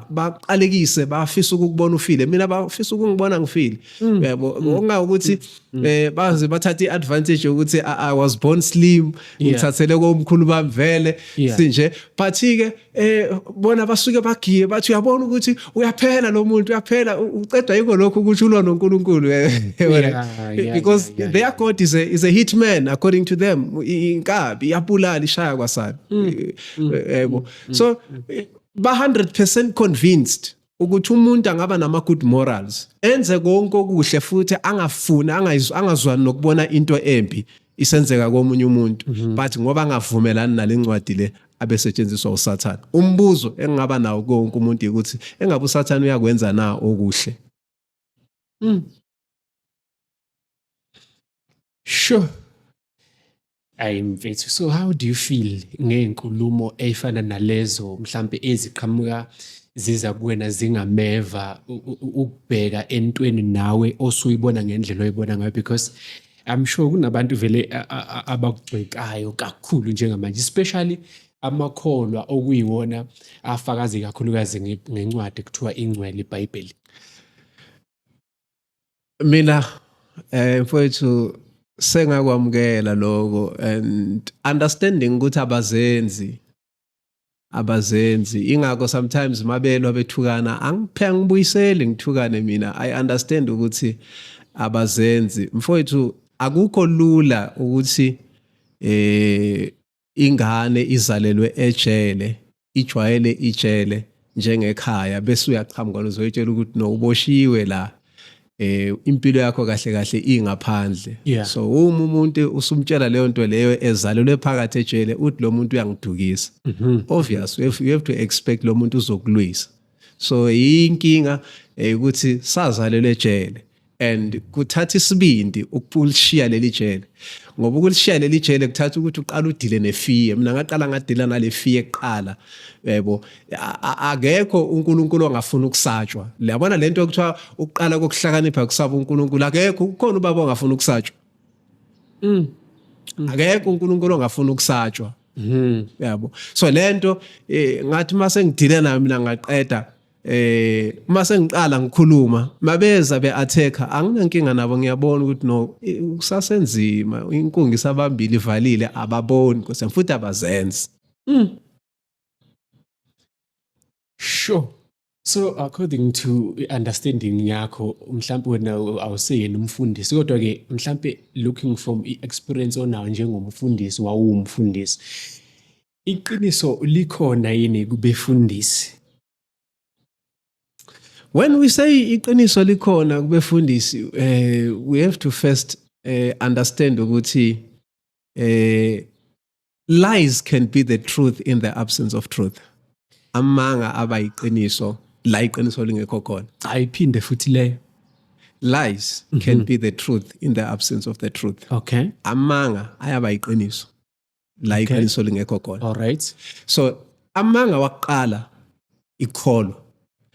baqalekise bafisa ukukubona ufile mina bafisa ukungibona ngifile hmm. yabo ngokunga ukuthi mm. Mm. eh baze bathatha iadvantage ukuthi i was born slim ngithathele komkhulu bami vele sinje but ke eh bona basuke bagiye bathi uyabona ukuthi uyaphela lo muntu uyaphela uqedwa yiko lokho ukuthi ulona uNkulunkulu eh, because their god is a is a hitman according to them inkabi iyabulala ishaya kwasana mm. eh, mm. yebo so ba 100% convinced ukuthi umuntu angaba nama good morals enze konke okuhle futhi angafuni angazwani nokubona into embi isenzeka komunye umuntu mhm. but ngoba angavumelani nalencwadi le abesetshenziswa usathane umbuzo engingaba nawo konke umuntu ukuthi engabe usathane uyakwenza na okuhle Mm. Sure. Ayi mfethu so how do you feel ngey'nkulumo ey'fana nalezo mhlampe eziqhamuka ziza kuwena zingameva u- u- u- ukubheka entweni nawe osuyibona ngendlela oyibona ngayo because I'm sure kunabantu vele a- a- a- abakugxekayo kakhulu njengamanje especially amakholwa okuyiwona afakaze kakhulukazi nge- ngencwadi kuthiwa ingcwele iBhayibheli mina eh mfowethu sengakwamukela lokho and understanding ukuthi abazenzi abazenzi ingakho sometimes mabelwa bethukana angiphe ngibuyiseli ngithukane mina i understand ukuthi abazenzi mfowethu akukho lula ukuthi eh ingane izalelwe ejele ijwayele ijele njengekhaya bese uyaqhamuka uzoyitshela ukuthi no uboshiwe la eh impilo yakho kahle kahle ingaphandle yeah. so uma umuntu usumtshela leyo nto leyo ezalelwe phakathi ejele uthi lo muntu uyangidukisa mm -hmm. obvious you have, you have to expect lo muntu uzokulwisa so inkinga eh, ukuthi sazalelwe ejele and kuthatha isibindi ukulishiya leli jele ngoba ukulishiya leli jele kuthatha ukuthi uqala udile nefiye mina ngaqala ngadila nale fiye kuqala yebo akekho uNkulunkulu ongafuna ukusatshwa liyabona lento okuthiwa uqala kokuhlakanipha kusaba uNkulunkulu akekho ukhona ubaba ongafuna ukusatshwa mm. akekho uNkulunkulu ongafuna ukusatshwa Mhm. Yabo. So lento eh ngathi mase ngidile nayo mina ngaqeda eh mase ngiqala ngikhuluma mabeza be attacker anginankinga nabo ngiyabona ukuthi no eh, kusasenzima inkungi sabambili ivalile ababoni kuse futhi abazenzi. Mhm. sure so according to understanding yakho mhlawumbe wena awuseyena umfundisi kodwa ke mhlawumbe looking from i-experience onayo njengomfundisi wawumfundisi iqiniso likhona yini kubefundisi when we say iqiniso likhona kubefundisi uh, we have to first uh, understand ukuthi uh, lies can be the truth in the absence of truth amanga abayiqiniso la iqiniso lingekho khona ayiphinde futhi leyo lies mm -hmm. can mhm. be the truth in the absence of the truth okay amanga ayaba iqiniso la okay. iqiniso lingekho khona all right so amanga waqala ikholo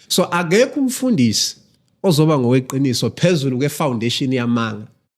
so akekho umfundisi ozoba ngoweqiniso phezulu kwefoundation yamanga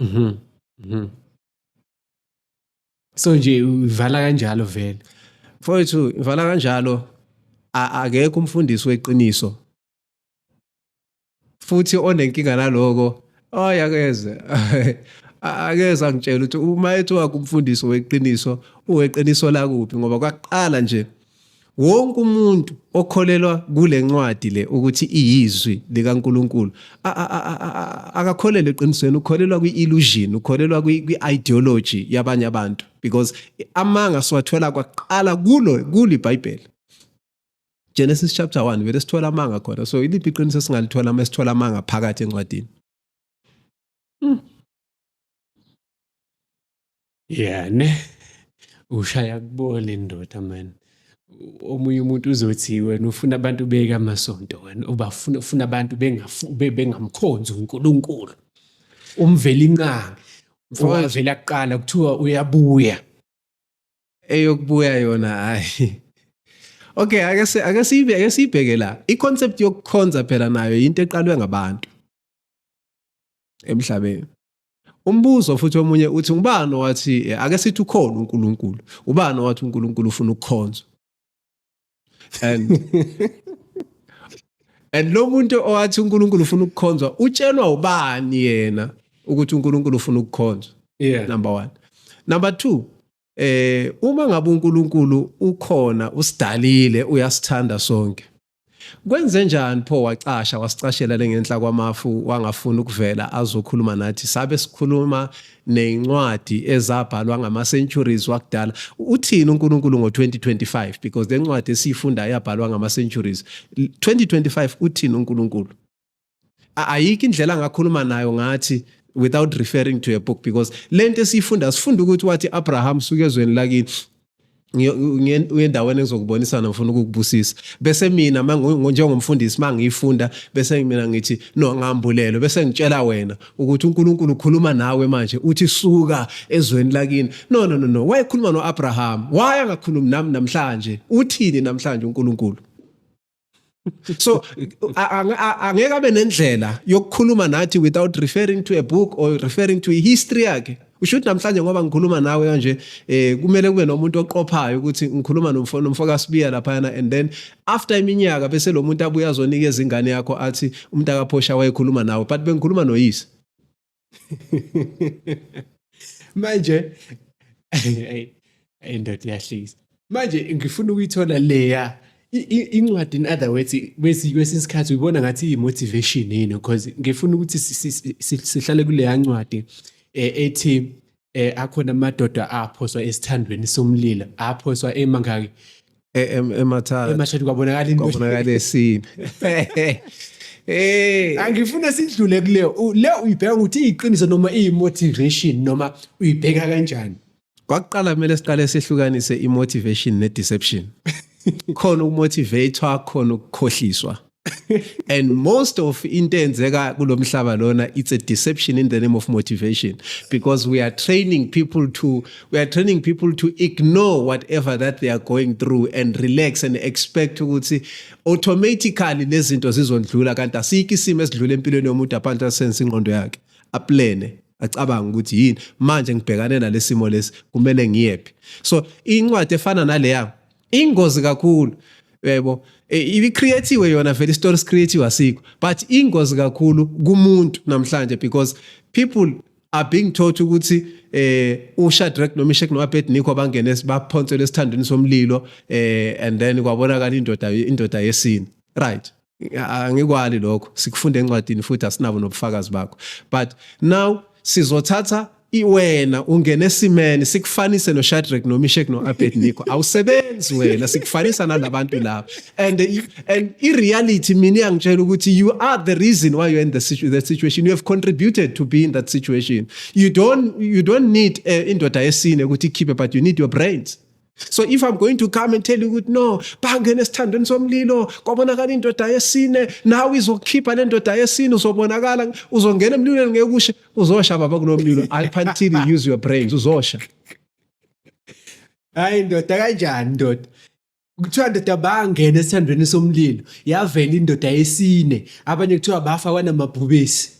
Mhm. Mhm. So nje uvala kanjalo vele. Mfowethu ngivala kanjalo a- akekho umfundisi weqiniso. Futhi onenkinga naloko ay akeze A- akeze angitshela ukuthi uma ethiwa kumfundisi weqiniso uweqiniso lakuphi ngoba kwaqala nje wonke umuntu okholelwa kule ncwadi le ukuthi iyizwi likaNkuluNkulu akakholelwa eqinisweni ukholelwa kwi-illusion ukholelwa kwi-ideology yabanye abantu because amanga siwathola kwaqala kulo kuli bhayibheli Genesis chapter 1 vele sithola amanga khona so iliphi iqiniso singalithola uma sithola amanga phakathi encwadini Hmm. Yeah, ne? Ushaya kubona indoda man. Omunye umuntu uzothi wena ufuna abantu beke amasonto wena ubafuna ufuna abantu bengamkhonzi uNkulunkulu. Umveli inqangi. Owavela kuqala kuthiwa uyabuya. Eyokubuya yona hayi. Okay, ake ake siyibe ake siyibheke la. I-concept yokukhonza phela nayo into eqalwe ngabantu. emhlabeni umbuzo futhi omunye uthi ubani owathi eh, ake sithi ukhona uNkulunkulu ubani owathi uNkulunkulu ufuna ukukhonzwa and and lo muntu owathi uNkulunkulu ufuna ukukhonzwa utshelwa ubani yena ukuthi uNkulunkulu ufuna ukukhonzwa yeah number 1 number 2 eh uma ngabe uNkulunkulu ukhona usidalile uyasithanda sonke kwenze njani pho wacasha wasicashela lengenhla kwamafu wangafuna ukuvela azokhuluma nathi sabe sikhuluma nezincwadi ezabhalwa ngama centuries wakudala uthini uNkulunkulu ngo2025 because lencwadi esiyifunda yabhalwa ngama centuries 2025 uthini uNkulunkulu ayikho indlela angakhuluma nayo ngathi without referring to a book because lento esiyifunda sifunda ukuthi wathi Abraham suke ezweni lakini uyendaweni ezokubonisana ngifuna ukukubusisa bese mina njengomfundisi uma ngiyifunda bese mina ngithi no ngambulelo bese ngitshela wena ukuthi uNkulunkulu ukhuluma nawe manje uthi suka ezweni lakini no no no no wayekhuluma noAbraham waya ngakhulumi nami namhlanje uthini namhlanje uNkulunkulu so angeke abe nendlela yokukhuluma nathi without referring to a book or referring to history yakhe usho ukuthi namhlanje ngoba ngikhuluma nawe kanje eh kumele kube nomuntu oqophayo ukuthi ngikhuluma nomfo nomfo kaSibiya laphana and then after iminyaka bese lo muntu abuya azonikeza ingane yakho athi umntaka Phosha wayekhuluma nawe but bengikhuluma noyise manje hey hey ndoda iyahlisa manje ngifuna ukuyithola leya incwadi in other words kwesinye isikhathi uyibona ngathi iyi-motivation yini because ngifuna ukuthi sihlale kuleya ncwadi um ethi eh akhona amadoda aphoswa esithandweni somlilo aphoswa emangaki e-, emathathu emathathu kwabonakala into kwabonakala esini Eh angifuna sidlule kuleyo le uyibheka ukuthi iyiqiniso noma iyimotivation noma uyibheka kanjani kwakuqala kumele siqale sehlukanise imotivation nedeception khona ukumotivatewa khona ukukhohliswa and most of into enzeka kulomhlaba lona it's a deception in the name of motivation because we are training people to we are training people to ignore whatever that they are going through and relax and expect ukuthi automatically lezinto zizondlula kanti asiki isimo esidlula empilweni yomuntu aphansi asense ingqondo yakhe aplane acabanga ukuthi yini manje ngibhekane nalesimo lesi kumele ngiyephi so incwadi efana naleya ingozi kakhulu yebo e, ibicreatiwe yona vele istory sicreatiwe asikho but ingozi kakhulu kumuntu namhlanje because people are being taught ukuthi eh uShadrach noMeshach noAbednego abangene baphonsele esithandweni somlilo eh and then kwabonakala indoda indoda yesini right angikwali lokho sikufunda encwadini futhi asinabo nobufakazi bakho but now sizothatha iwena ungena esimene sikufanise noShadrach noMeshach noAbednego awusebenzi wena sikufanisa nalabantu laba and and i reality mina iyangitshela ukuthi you are the reason why you're in the situ that situation you have contributed to be in that situation you don't you don't need uh, indoda yesine ukuthi ikhiphe but you need your brains so if i'm going to come and tell you ukuthi no bangena esithandweni somlilo kwabonakala indoda yesine nawe izokukhipha le ndoda yesine uzobonakala uzongena emlilweni ngeke ushe uzosha baba kulo mlilo up until you use your brains uzosha hayi ndoda kanjani ndoda kuthiwa ndoda bangena esithandweni somlilo yavela indoda yesine abanye kuthiwa bafa kwanamabhubesi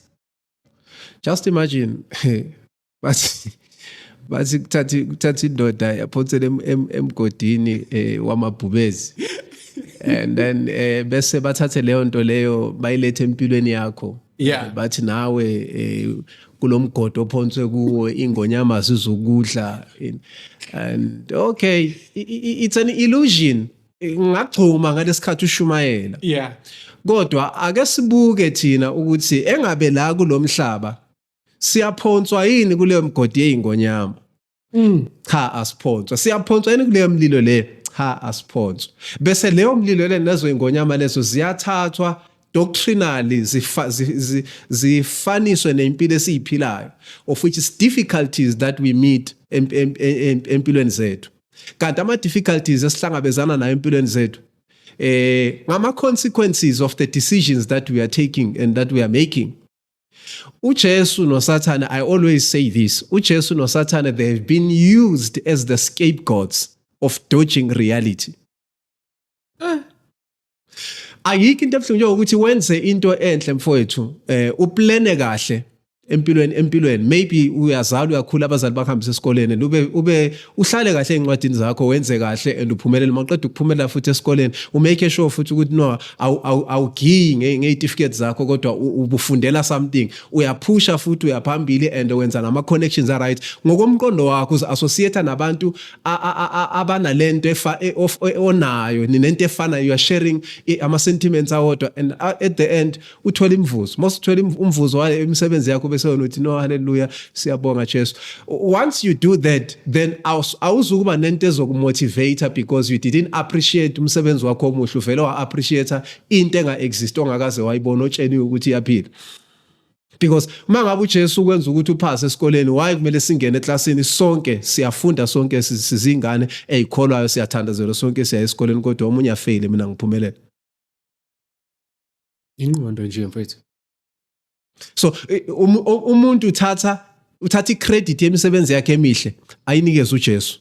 just imagine bathi bathi kuthatha kuthatha indoda yaphothela emgodini eh, wamabhubezi and then eh, bese bathathe leyo nto leyo bayilethe empilweni yakho yeah. Eh, bathi nawe eh, kulomgodo ophonswe kuwo ingonyama sizokudla and okay it's an illusion ngagcuma ngalesikhathi ushumayela yeah kodwa ake sibuke thina ukuthi engabe la kulomhlaba siyaphonswa yini kuleyo mgodi yeyingonyama mm. cha asiphonswa siyaphonswa yini kuleyo mlilo le cha asiphonswa bese leyo mlilo le nezo ingonyama lezo ziyathathwa doctrinally zifaniswe nempilo esiyiphilayo of which is difficulties that we meet empilweni zethu kanti ama difficulties esihlangabezana nayo empilweni zethu eh ngama consequences of the decisions that we are taking and that we are making uJesu noSathane I always say this uJesu noSathane they have been used as the scapegoats of dodging reality eh. ayikho into ebuhlungu njengokuthi wenze into enhle mfowethu eh uplane kahle empilweni empilweni maybe uyazalwa uyakhula abazali bakuhambisa esikoleni and ube ube uhlale kahle ezincwadini zakho wenze kahle and uphumelele maqeda ukuphumelela futhi esikoleni umake sure futhi ukuthi no awugiyi ngeyitifiketi zakho kodwa ubufundela something uyaphusha futhi uyaphambili and wenza nama connections are right ngokomqondo wakho uzi associate nabantu abanalento efa e, e, onayo ninento efana you are sharing ama sentiments awodwa and uh, at the end uthola imvuzo most uthola umvuzo wale imisebenzi yakho bese wena uthi no haleluya siyabonga Jesu once you do that then awuzukuba nento ezokumotivate because you didn't appreciate umsebenzi wakho omuhle uvele wa appreciate into enga exist ongakaze wayibona otsheni ukuthi iyaphila because uma ngabe uJesu ukwenza ukuthi uphase esikoleni why kumele singene eklasini sonke siyafunda sonke sizingane ezikholwayo siyathandazela sonke siya esikoleni kodwa omunye afeyile mina ngiphumelela ingqondo nje mfethu so um, umuntu uthatha uthatha icredit yemisebenzi yakhe emihle ayinikeze uJesu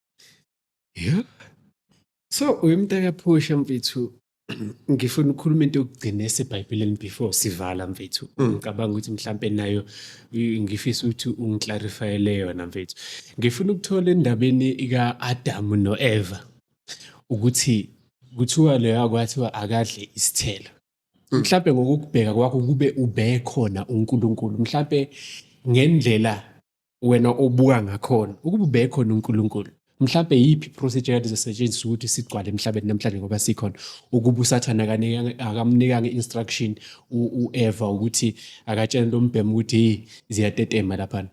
Yeah. So uyumntaka phusha mfethu ngifuna ukukhuluma into yokugcina esebhayibhelini before sivala mfethu mm. ngicabanga ukuthi mhlampe nayo ngifisa ukuthi ungiclarifyele yona mfethu ngifuna ukuthola endabeni ika-adamu no-eva ukuthi kuthiwa leyo akwathiwa akadle isithelo hmm. mhlampe ngokukubheka kwakho kube ubekhona uNkulunkulu mhlampe ngendlela wena obuka ngakhona ukuba ubekhona uNkulunkulu mhlambe yiphi procedure kade izosetshenziswa ukuthi sigcwale emhlabeni namhlanje ngoba sikhona ukuba usathane akamnikanga instruction uEva ukuthi akatshele lombhemu ukuthi hey ziyatetema laphana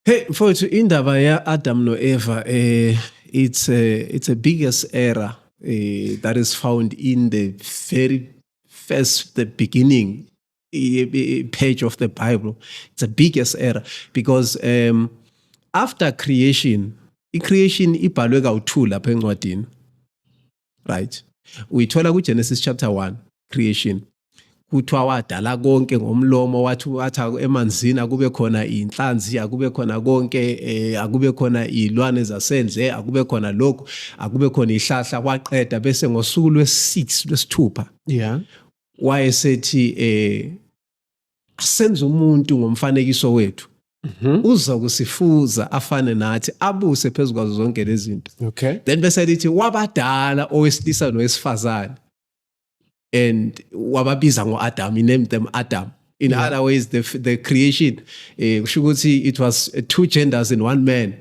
Hey mfowethu indaba ya Adam no Eva eh it's a it's a biggest error eh, that is found in the very first the beginning eh, eh, page of the Bible. It's a biggest error because um after creation i-creation ibhalwe kawu-2 lapha encwadini right uyithola kuGenesis chapter 1 creation kuthiwa wadala konke ngomlomo wathi wathi emanzini akube khona inhlanzi akube khona konke eh, akube khona izilwane zasendle akube khona lokho akube khona ihlahla waqeda bese ngosuku lwesi6 lwesithupha yeah wayesethi eh asenze umuntu ngomfanekiso wethu mhm. uzokusifuza afane nathi abuse phezu kwazo zonke lezi zinto okay then bese lithi wabadala owesilisa nowesifazane and wababiza ngo-adam he named them adam in yeah. other ways the, the creation eh, kusho ukuthi it was two genders in one man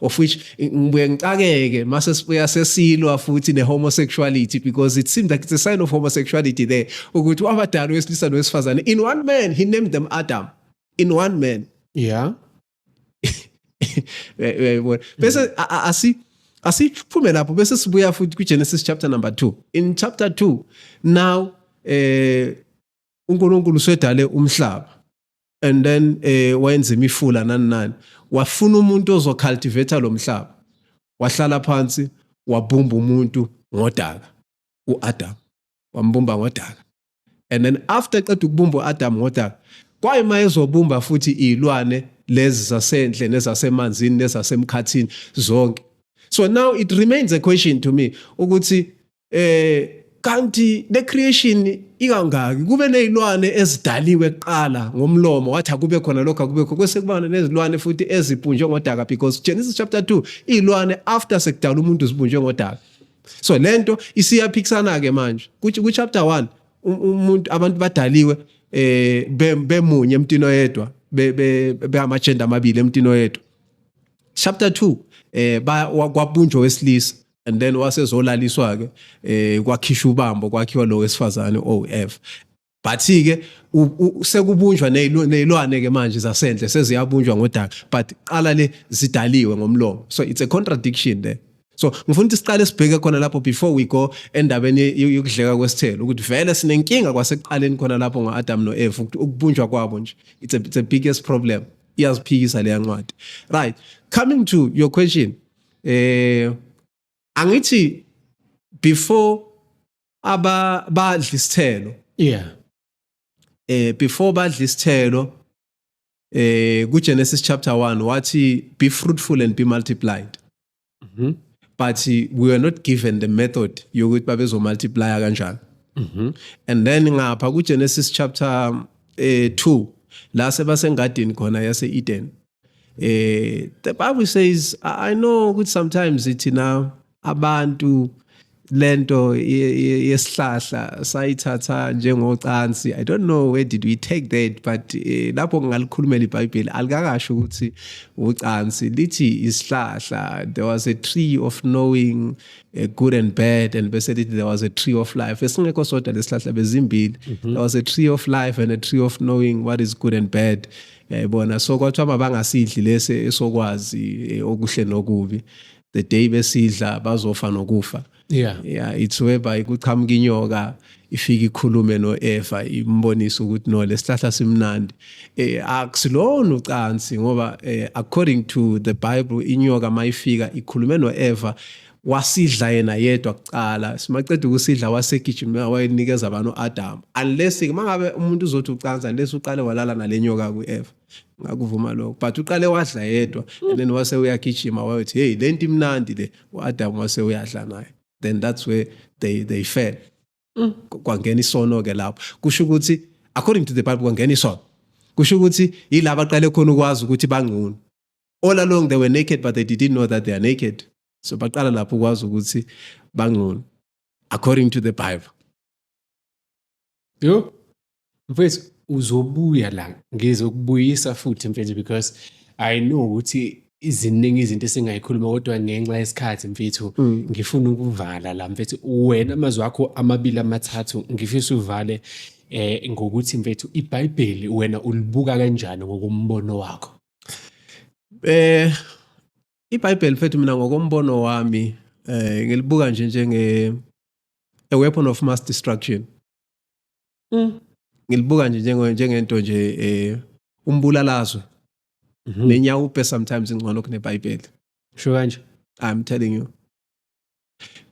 of which ngibuye ngicakeke mase sibuya sesilwa futhi ne-homosexuality because it seems like it's a sign of homosexuality there ukuthi wabadala wesilisa nowesifazane in one man he named them adam in one man yeah uyayibona bese mm. asi asiphume lapho bese sibuya futhi kwigenesis chapter number 2 in chapter 2 now eh uNkulunkulu usedale umhlaba and then eh wayenza imifula nani nani wafuna umuntu ozocultivate lo mhlaba wahlala phansi wabumba umuntu ngodaka uAdam wambumba ngodaka and then after qeda ukubumba uAdam ngodaka kwayima ezobumba futhi izilwane lezi zasendle nezasemanzini nezasemkhathini zonke so now it remains a question to me ukuthi eh kanti le creation ikangaki kube nezilwane ezidaliwe kuqala ngomlomo wathi akube khona lokho akube khona kwese kubana nezilwane futhi ezipunjwe ngodaka because Genesis chapter 2 izilwane after sekudala umuntu zipunjwe ngodaka so lento isiyaphikisana ke manje kuthi ku chapter 1 um, umuntu abantu badaliwe eh bemunye emntini oyedwa be be ama gender amabili emntini oyedwa chapter 2 eh kwapunjwa wesilisa and then wasezolaliswa ke eh kwakhishwa ubambo kwakhiwa lo wesifazane OF but ke sekubunjwa nezilwane ke manje zasendle seziyabunjwa ngodaka but qala le zidaliwe ngomlomo so it's a contradiction there so ngifuna ukuthi siqale sibheke khona lapho before we go endabeni yokudleka kwesithelo ukuthi vele sinenkinga kwasekuqaleni khona lapho ngo-adam no-eva ukubunjwa kwabo nje it's a, it's a biggest problem iyaziphikisa leya ncwadi right coming to your question eh angithi before aba badla isithelo yeah eh before badla isithelo eh ku Genesis chapter 1 wathi be fruitful and be multiplied mhm mm but we were not given the method yokuthi babezo multiply kanjani mhm mm and then ngapha ku Genesis chapter eh 2 la sebasengadini khona yase Eden Eh, the Bible says, I know ukuthi sometimes ithina abantu lento yesihlahla sayithatha njengocansi i don't know where did we take that but eh, lapho ngingalikhulumela ibhayibheli alikakasho ukuthi ucansi lithi isihlahla there was a tree of knowing eh, good and bad and bese lithi there was a tree of life esingekho sodwa lesihlahla bezimbili mhm. there was a tree of life and a tree of knowing what is good and bad yayibona so kwathiwa mabangasidli lesi esokwazi eh, okuhle nokubi the day besidla bazofa nokufa yeah yeah it's whereby kuqhamuka inyoka ifike ikhulume noEva imbonisa ukuthi no lesihlahla simnandi eh akusilona ucansi ngoba eh, according to the bible inyoka mayifika ikhulume noEva wasidla yena yedwa kuqala simaqeda ukusidla wasegijima wayenikeza abantu u-adamu unless uma ngabe umuntu uzothi ucansa unless uqale walala nale nyoka ku-eva ngakuvuma lokho but uqale wadla yedwa and then wase uyagijima wayothi heyi le nto imnandi le u-adamu wase uyadla naye then that's where they, they fell mm. kwangena isono-ke lapho kusho ukuthi according to the bible kwangena isono kusho ukuthi yilaba aqale khona ukwazi ukuthi bangcono all along they were naked but they didn't know that they are naked so baqala lapho ukwazi ukuthi bangcono according to the bible yo mfethu uzobuya la ngizokubuyisa futhi mfethu because i know ukuthi iziningi izinto esingayikhuluma kodwa ngenxa yesikhathi mfethu mm. ngifuna ukuvala la mfethu wena amazwi akho amabili amathathu ngifisa uvale eh ngokuthi mfethu iBhayibheli wena ulibuka kanjani ngokumbono wakho Eh iBhayibheli mfethu mina ngokombono wami eh ngilibuka nje njenge a weapon of mass destruction. Mm. Ngilibuka nje njenge njengento nje eh umbulalazwe. Mm -hmm. Nenyawo upe sometimes ingcono kuneBhayibheli. Sho kanje. I'm telling you.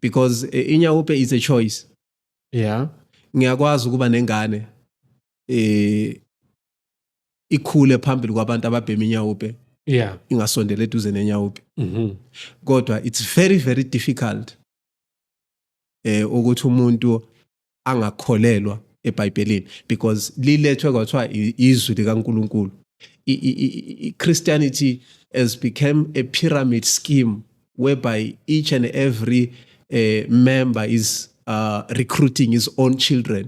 Because eh, inyawo upe is a choice. Yeah. Ngiyakwazi ukuba nengane. eh ikhule phambili kwabantu ababhema inyawupe yeah ingasondela eduze nenyawupe mhm kodwa it's very very difficult eh ukuthi umuntu angakholelwa eBhayibhelini because lilethwe kwathiwa i- izwi likaNkuluNkulu I- i- i- i- Christianity has become a pyramid scheme whereby each and every uh, member is uh, recruiting his own children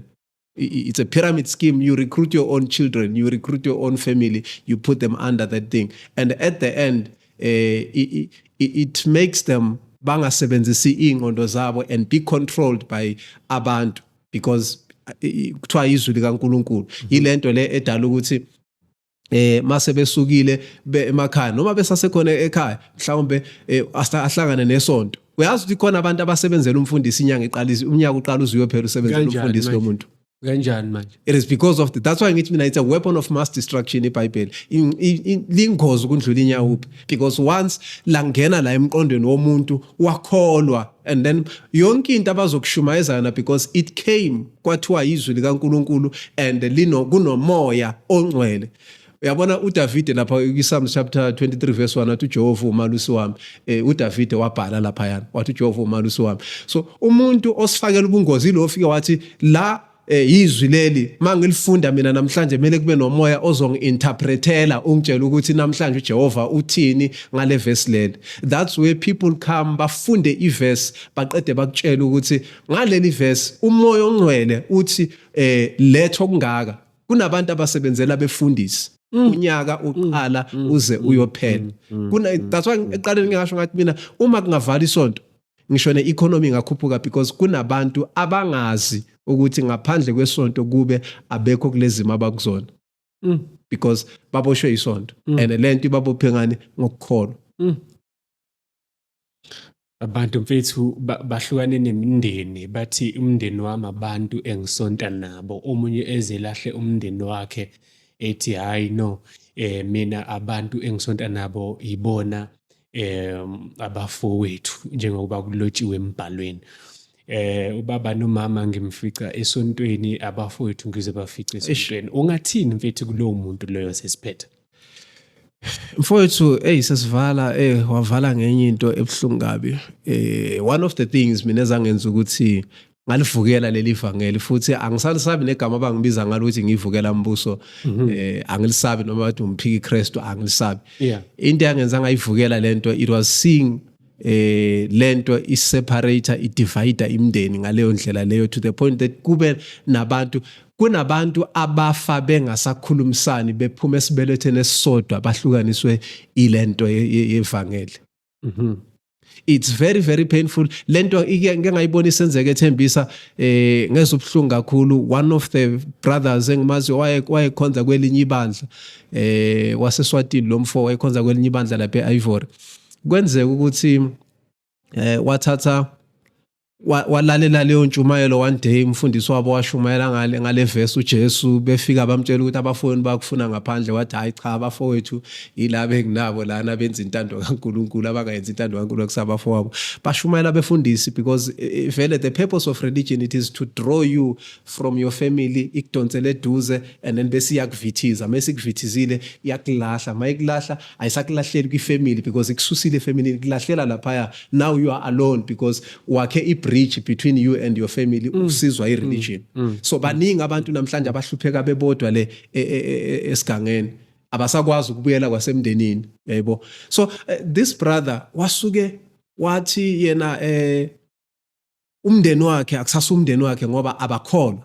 it's a pyramid scheme you recruit your own children you recruit your own family you put them under that thing and at the end uh, eh, it, it, it makes them bangasebenzisi iy'ngqondo zabo and be controlled by abantu because eh, kuthiwa izwi likankulunkulu yile nto le edala ukuthi eh mase besukile emakhaya noma besasekhona ekhaya mhlawumbe eh, ahlangane nesonto uyazi ukuthi khona abantu abasebenzela umfundisi inyanga iqala unyaka uqala uziwe phela usebenzela umfundisi lomuntu kanjani manje it is because of the, that's why ngithi mina it's a weapon of mass destruction ibhayibheli lingozi ukundlula inyawuphi because once langena la emqondweni womuntu wakholwa and then yonke into abazokushumayeza yona because it came kwathiwa izwi likaNkuluNkulu and lino kunomoya ongcwele uyabona uDavide lapha kwiSalms chapter 23 verse 1 wathi uJehova umalusi wami eh uDavide wabhala lapha yana wathi uJehova umalusi wami so umuntu osifakela ubungozi lo ofike wathi la eh izwi leli mangilifunda mina namhlanje kumele kube nomoya ozongiinterpretela ungitshela ukuthi namhlanje uJehova uthini ngale verse leli that's where people come bafunde iverse baqede bakutshela ukuthi Ngaleli verse umoya ongcwele uthi eh letho kungaka kunabantu abasebenzela befundisi mm. unyaka mm. uqala mm. uze uyophela kuna that's why eqaleni ngingasho ngathi mina uma kungavala isonto ngisho ne economy ingakhuphuka because kunabantu abangazi ukuthi ngaphandle kwesonto kube abekho kulezimo abakuzona because baboshwe isonto and lento ibabophe ngani ngokukholwa Abantu mfethu bahlukane nemindeni bathi umndeni wami abantu engisonta nabo. Omunye eze elahle umndeni wakhe ethi hhayi no mina abantu engisonta nabo yibona abafowethu njengokuba kulotshiwe embhalweni. Ubaba nomama ngimfica esontweni, abafowethu ngizobafica esontweni. Ungathini mfethu kulowo muntu loyo sesiphetha? mfowethu eyi sesivala eh wavala ngenye into ebuhlungu kabi eh one of the things mina ezangenza ukuthi ngalivukela leli vangeli futhi angisalisabi negama abangibiza ngalo ukuthi ngivukela umbuso mhm. eh angilisabi noma bathi umphiki Christu angilisabi into yangenza ngayivukela lento it was seeing eh lento iseparator idivide imndeni ngaleyo ndlela leyo to the point that kube nabantu kunabantu abafa bengasakhulumisani bephuma esibeletheni esisodwa bahlukaniswe ilento yevangeli mhm it's very very painful lento ike ngengayibona isenzeke ethembisa eh ngezwe ubhlungu kakhulu one of the brothers engimazi waye wayekhonza kwelinye ibandla eh waseswatini lomfo wayekhonza kwelinye ibandla lapha eIvory kwenzeka ukuthi eh wathatha walalela leyo ntshumayelo one day umfundisi wabo washumayela ngale ngale verse uJesu befika bamtshela ukuthi abafowenu bakufuna ngaphandle wathi hayi cha abafowethu yilabo enginabo lana benza intando kaNkuluNkulu abangayenzi intando kaNkuluNkulu kusabafowabo bashumayela befundisi because eh, eh, vele the purpose of religion it is to draw you from your family ikudonsele eduze and then bese iyakuvithiza mase ikuvithizile iyakulahla mayikulahla ayisakulahleli kwifamily because ikususile efamily kulahlela laphaya now you are alone because wakhe i-bridge between you and your family mm. usizwa i-religion mm. mm. so baningi abantu namhlanje abahlupheka bebodwa le e, e, e, esigangeni abasakwazi ukubuyela kwasemndenini yaybo so eh, this brother wasuke wathi yena eh umndeni wakhe akusasa umndeni wakhe ngoba abakholwa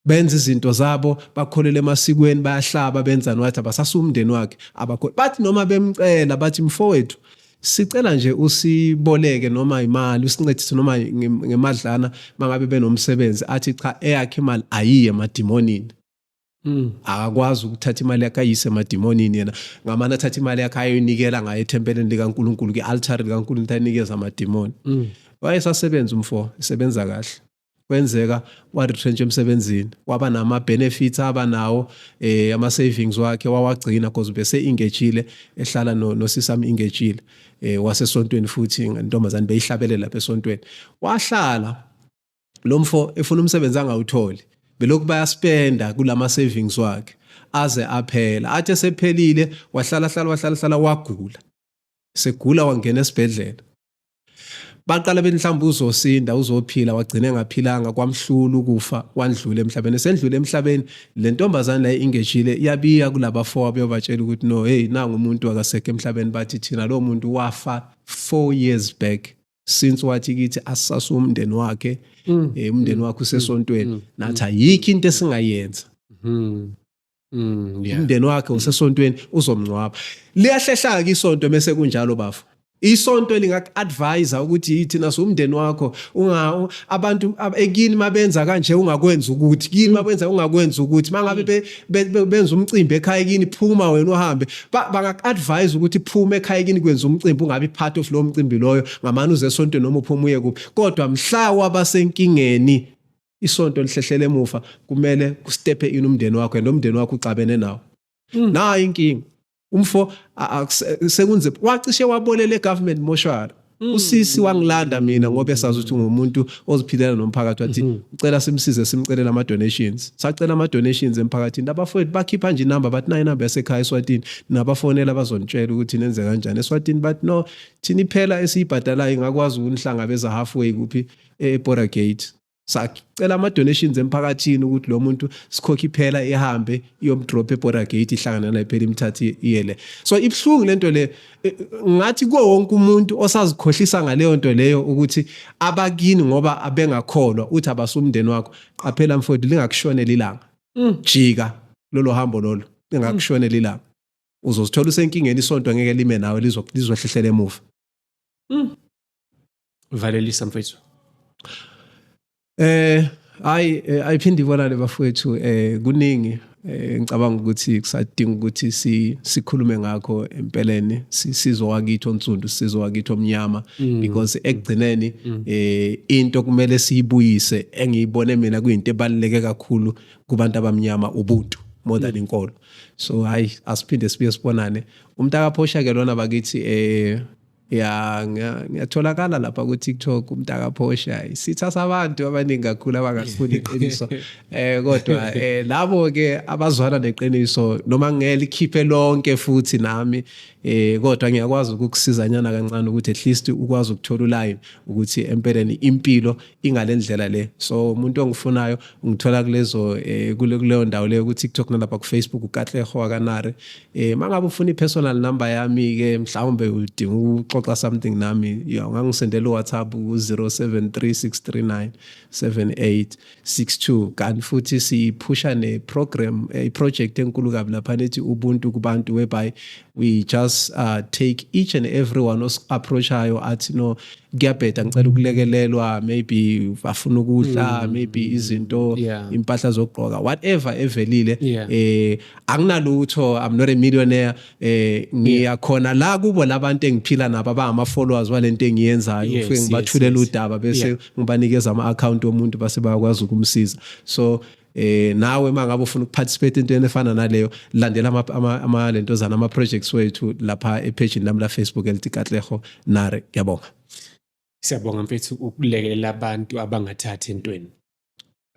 benza izinto zabo bakholele emasikweni bayahlaba benzani wathi abasasa umndeni wakhe abakholwa bathi noma bemcela bathi mfowethu sicela nje usiboleke noma imali usincedise noma ngemadlana mangabe benomsebenzi athi cha eyakhe imali ayiye emadimonini Mm. akakwazi ukuthatha imali yakhe ayise emadimonini yena ngamane athatha imali yakhe ayoyinikela ngayo ethempeleni likankulunkulu kwi-altari likankulunkulu ayinikeza amadimoni mm. wayesasebenza umfo esebenza kahle kwenzeka wa-retrench emsebenzini waba nama-benefits aba nawo um eh, ama-savings wakhe wawagcina because ubese-engejile ehlala nosisami engejile um eh, wasesontweni futhi ntombazane beyihlabelela lapha esontweni wahlala lo mfo efuna umsebenzi angawutholi belokhu bayaspenda kulama savings wakhe aze aphela athi esephelile wahlala hlala wahlala hlala wagula segula wangena esibhedlela baqala bethi mhlawumbe uzosinda uzophila wagcine ngaphilanga kwamhlulu kufa wandlula emhlabeni sendlule emhlabeni le ntombazane la ingejile yabiya kulaba four abeyobatshela ukuthi no hey nangu umuntu akasekho emhlabeni bathi thina lo muntu wafa 4 years back since wathi kithi asisase umndeni wakhe mm. eh, umndeni wakhe usesontweni mm. nathi ayikho into esingayenza mm. Mm, yeah. umndeni wakhe usesontweni uzomngcwaba liyahlehlaka isonto mese kunjalo bafo isonto lingaku-advisa ukuthi yithina siwumndeni wakho unga abantu ekini mabenza kanje ungakwenza ukuthi kini mabenza ungakwenza ukuthi mangabe benza umcimbi ekhaya kini phuma wena uhambe bangaku-advise ukuthi phuma ekhaya kini kwenza umcimbi ungabi part of lowo mcimbi loyo ngamane uze esontweni noma uphuma uye kuphi kodwa mhla wabasenkingeni isonto lihlehlele emuva kumele kustephe ini umndeni wakho and umndeni wakho uxabene nawo hmm. nayo inkinga umfo sekunzima wacishe wabolela egovernment moshwari mm. usisi wangilanda mina ngoba esazi ukuthi ngumuntu oziphilela nomphakathi wathi mm-hmm. ucela simsize simcele nama donations sacela ama donations emphakathini abafowethu bakhipha nje inamba bathi nayi inamba yasekhaya eswatini nabafonela bazonitshela ukuthi nenze kanjani eswatini bathi no thini phela esiyibhadalayo ingakwazi ukunihlangabeza halfway kuphi e-Bora Gate sacela ama donations emphakathini ukuthi lo muntu sikhokhe iphela ihambe iyomdrop eborder gate ihlangana naye phela imthathi iyele so ibhlungu lento le eh, ngathi kuwo wonke umuntu osazikhohlisa ngaleyo nto leyo ukuthi abakini ngoba abengakholwa uthi abasumndeni wakho qaphela mfowethu lingakushonela ilanga mm. jika lolo hambo lolo lingakushonela ilanga uzozithola usenkingeni isonto ngeke lime nawe lizohlehlela emuva mm. valelisa mfethu eh hayi eh, ayiphinde ibonane bafowethu eh kuningi eh, ngicabanga ukuthi kusadinga ukuthi si sikhulume ngakho empeleni sizo wakithi onsundu sizo wakithi omnyama mm. because ekugcineni mm. eh into kumele siyibuyise engiyibone mina kuyinto ebaluleke kakhulu kubantu abamnyama ubuntu more than mm. inkolo so hayi asiphinde sibuye sibonane umntaka phosha ke lona bakithi eh ya ngiyatholakala lapha ku-tiktok umntaka phosha isitha sabantu abaningi kakhulu abangasifuni iqiniso eh kodwa eh labo-ke abazwana neqiniso noma ngelikhiphe lonke futhi nami eh kodwa ngiyakwazi ukukusizanyana kancane ukuthi at least ukwazi ukuthola uline ukuthi empeleni impilo ingale ndlela le so umuntu ongifunayo ungithola kulezo eh, kuleyo ndawo leyo ku-tiktok nalapha kufacebook ukatleho wakanare Eh mangabe ufuna ipersonal number yami ke mhlawumbe udinga ukuxoxa something nami yo ngangisendela uWhatsApp ku0736397862 kanti futhi siphusha neprogram eh, iproject enkulu kabi lapha nethi ubuntu kubantu whereby we just uh, take each and everyone os approachayo athi no kuyabheda ngicela ukulekelelwa maybe afuna ukudla mm. maybe izinto impahla zokugqoka whatever evelile eh anginalutho i'm not a millionaire eh ngiyakhona la kubo labantu engiphila nabo abama followers walento engiyenzayo yes, ufike ngibathulela yes, yes. udaba bese yeah. ngibanikeza ama account omuntu base bayakwazi ukumsiza so eh nawe mangabe ufuna ukuparticipate into efana naleyo landela ama, ama, ama lento zana ama projects wethu lapha e page nami la Facebook elithi Katlego Nare yabonga Siyabonga mfethu ukulekelela abantu abangathathi entweni.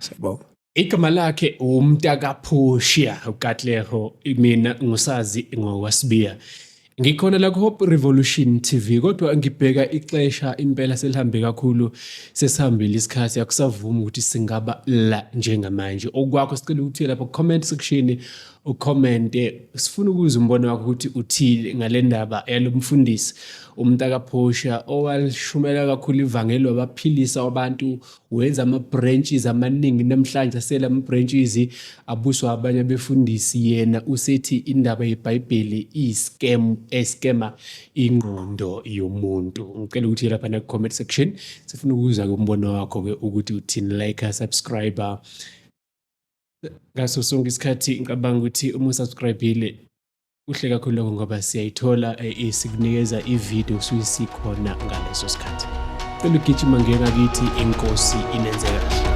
Siyabonga. Igama lakhe umntakaphushiya uKatleho mina ngusazi ngokwasibiya. Ngikhona la ku-Hope Revolution TV kodwa ngibheka ixesha impela selihambe kakhulu sesihambile isikhathi akusavumi ukuthi singaba la njengamanje. Okwakho sicela ukuthi lapha ku-comment section ucommente sifuna ukuzwa umbono wakho ukuthi uthile ngale ndaba yalo mfundisi umntakaphosha owalishumela kakhulu ivangeli wabaphilisa wabantu wenza ama-branches amaningi namhlanje asele ama-branches abuswa abanye abefundisi yena usethi indaba yebhayibheli iyiscam escama ingqondo yomuntu ngicela ukuthi lapha naku-comment section sifuna ukuzwa-ke umbono wakho-ke ukuthi uthini like subscriber ngaso sonke isikhathi ngicabanga ukuthi uma usubscribile kuhle kakhulu lokho ngoba siyayithola eh, eh, sikunikeza ividiyo kusuke sikhona ngaleso sikhathi cela ugijima ngengakithi inkosi inenze kahle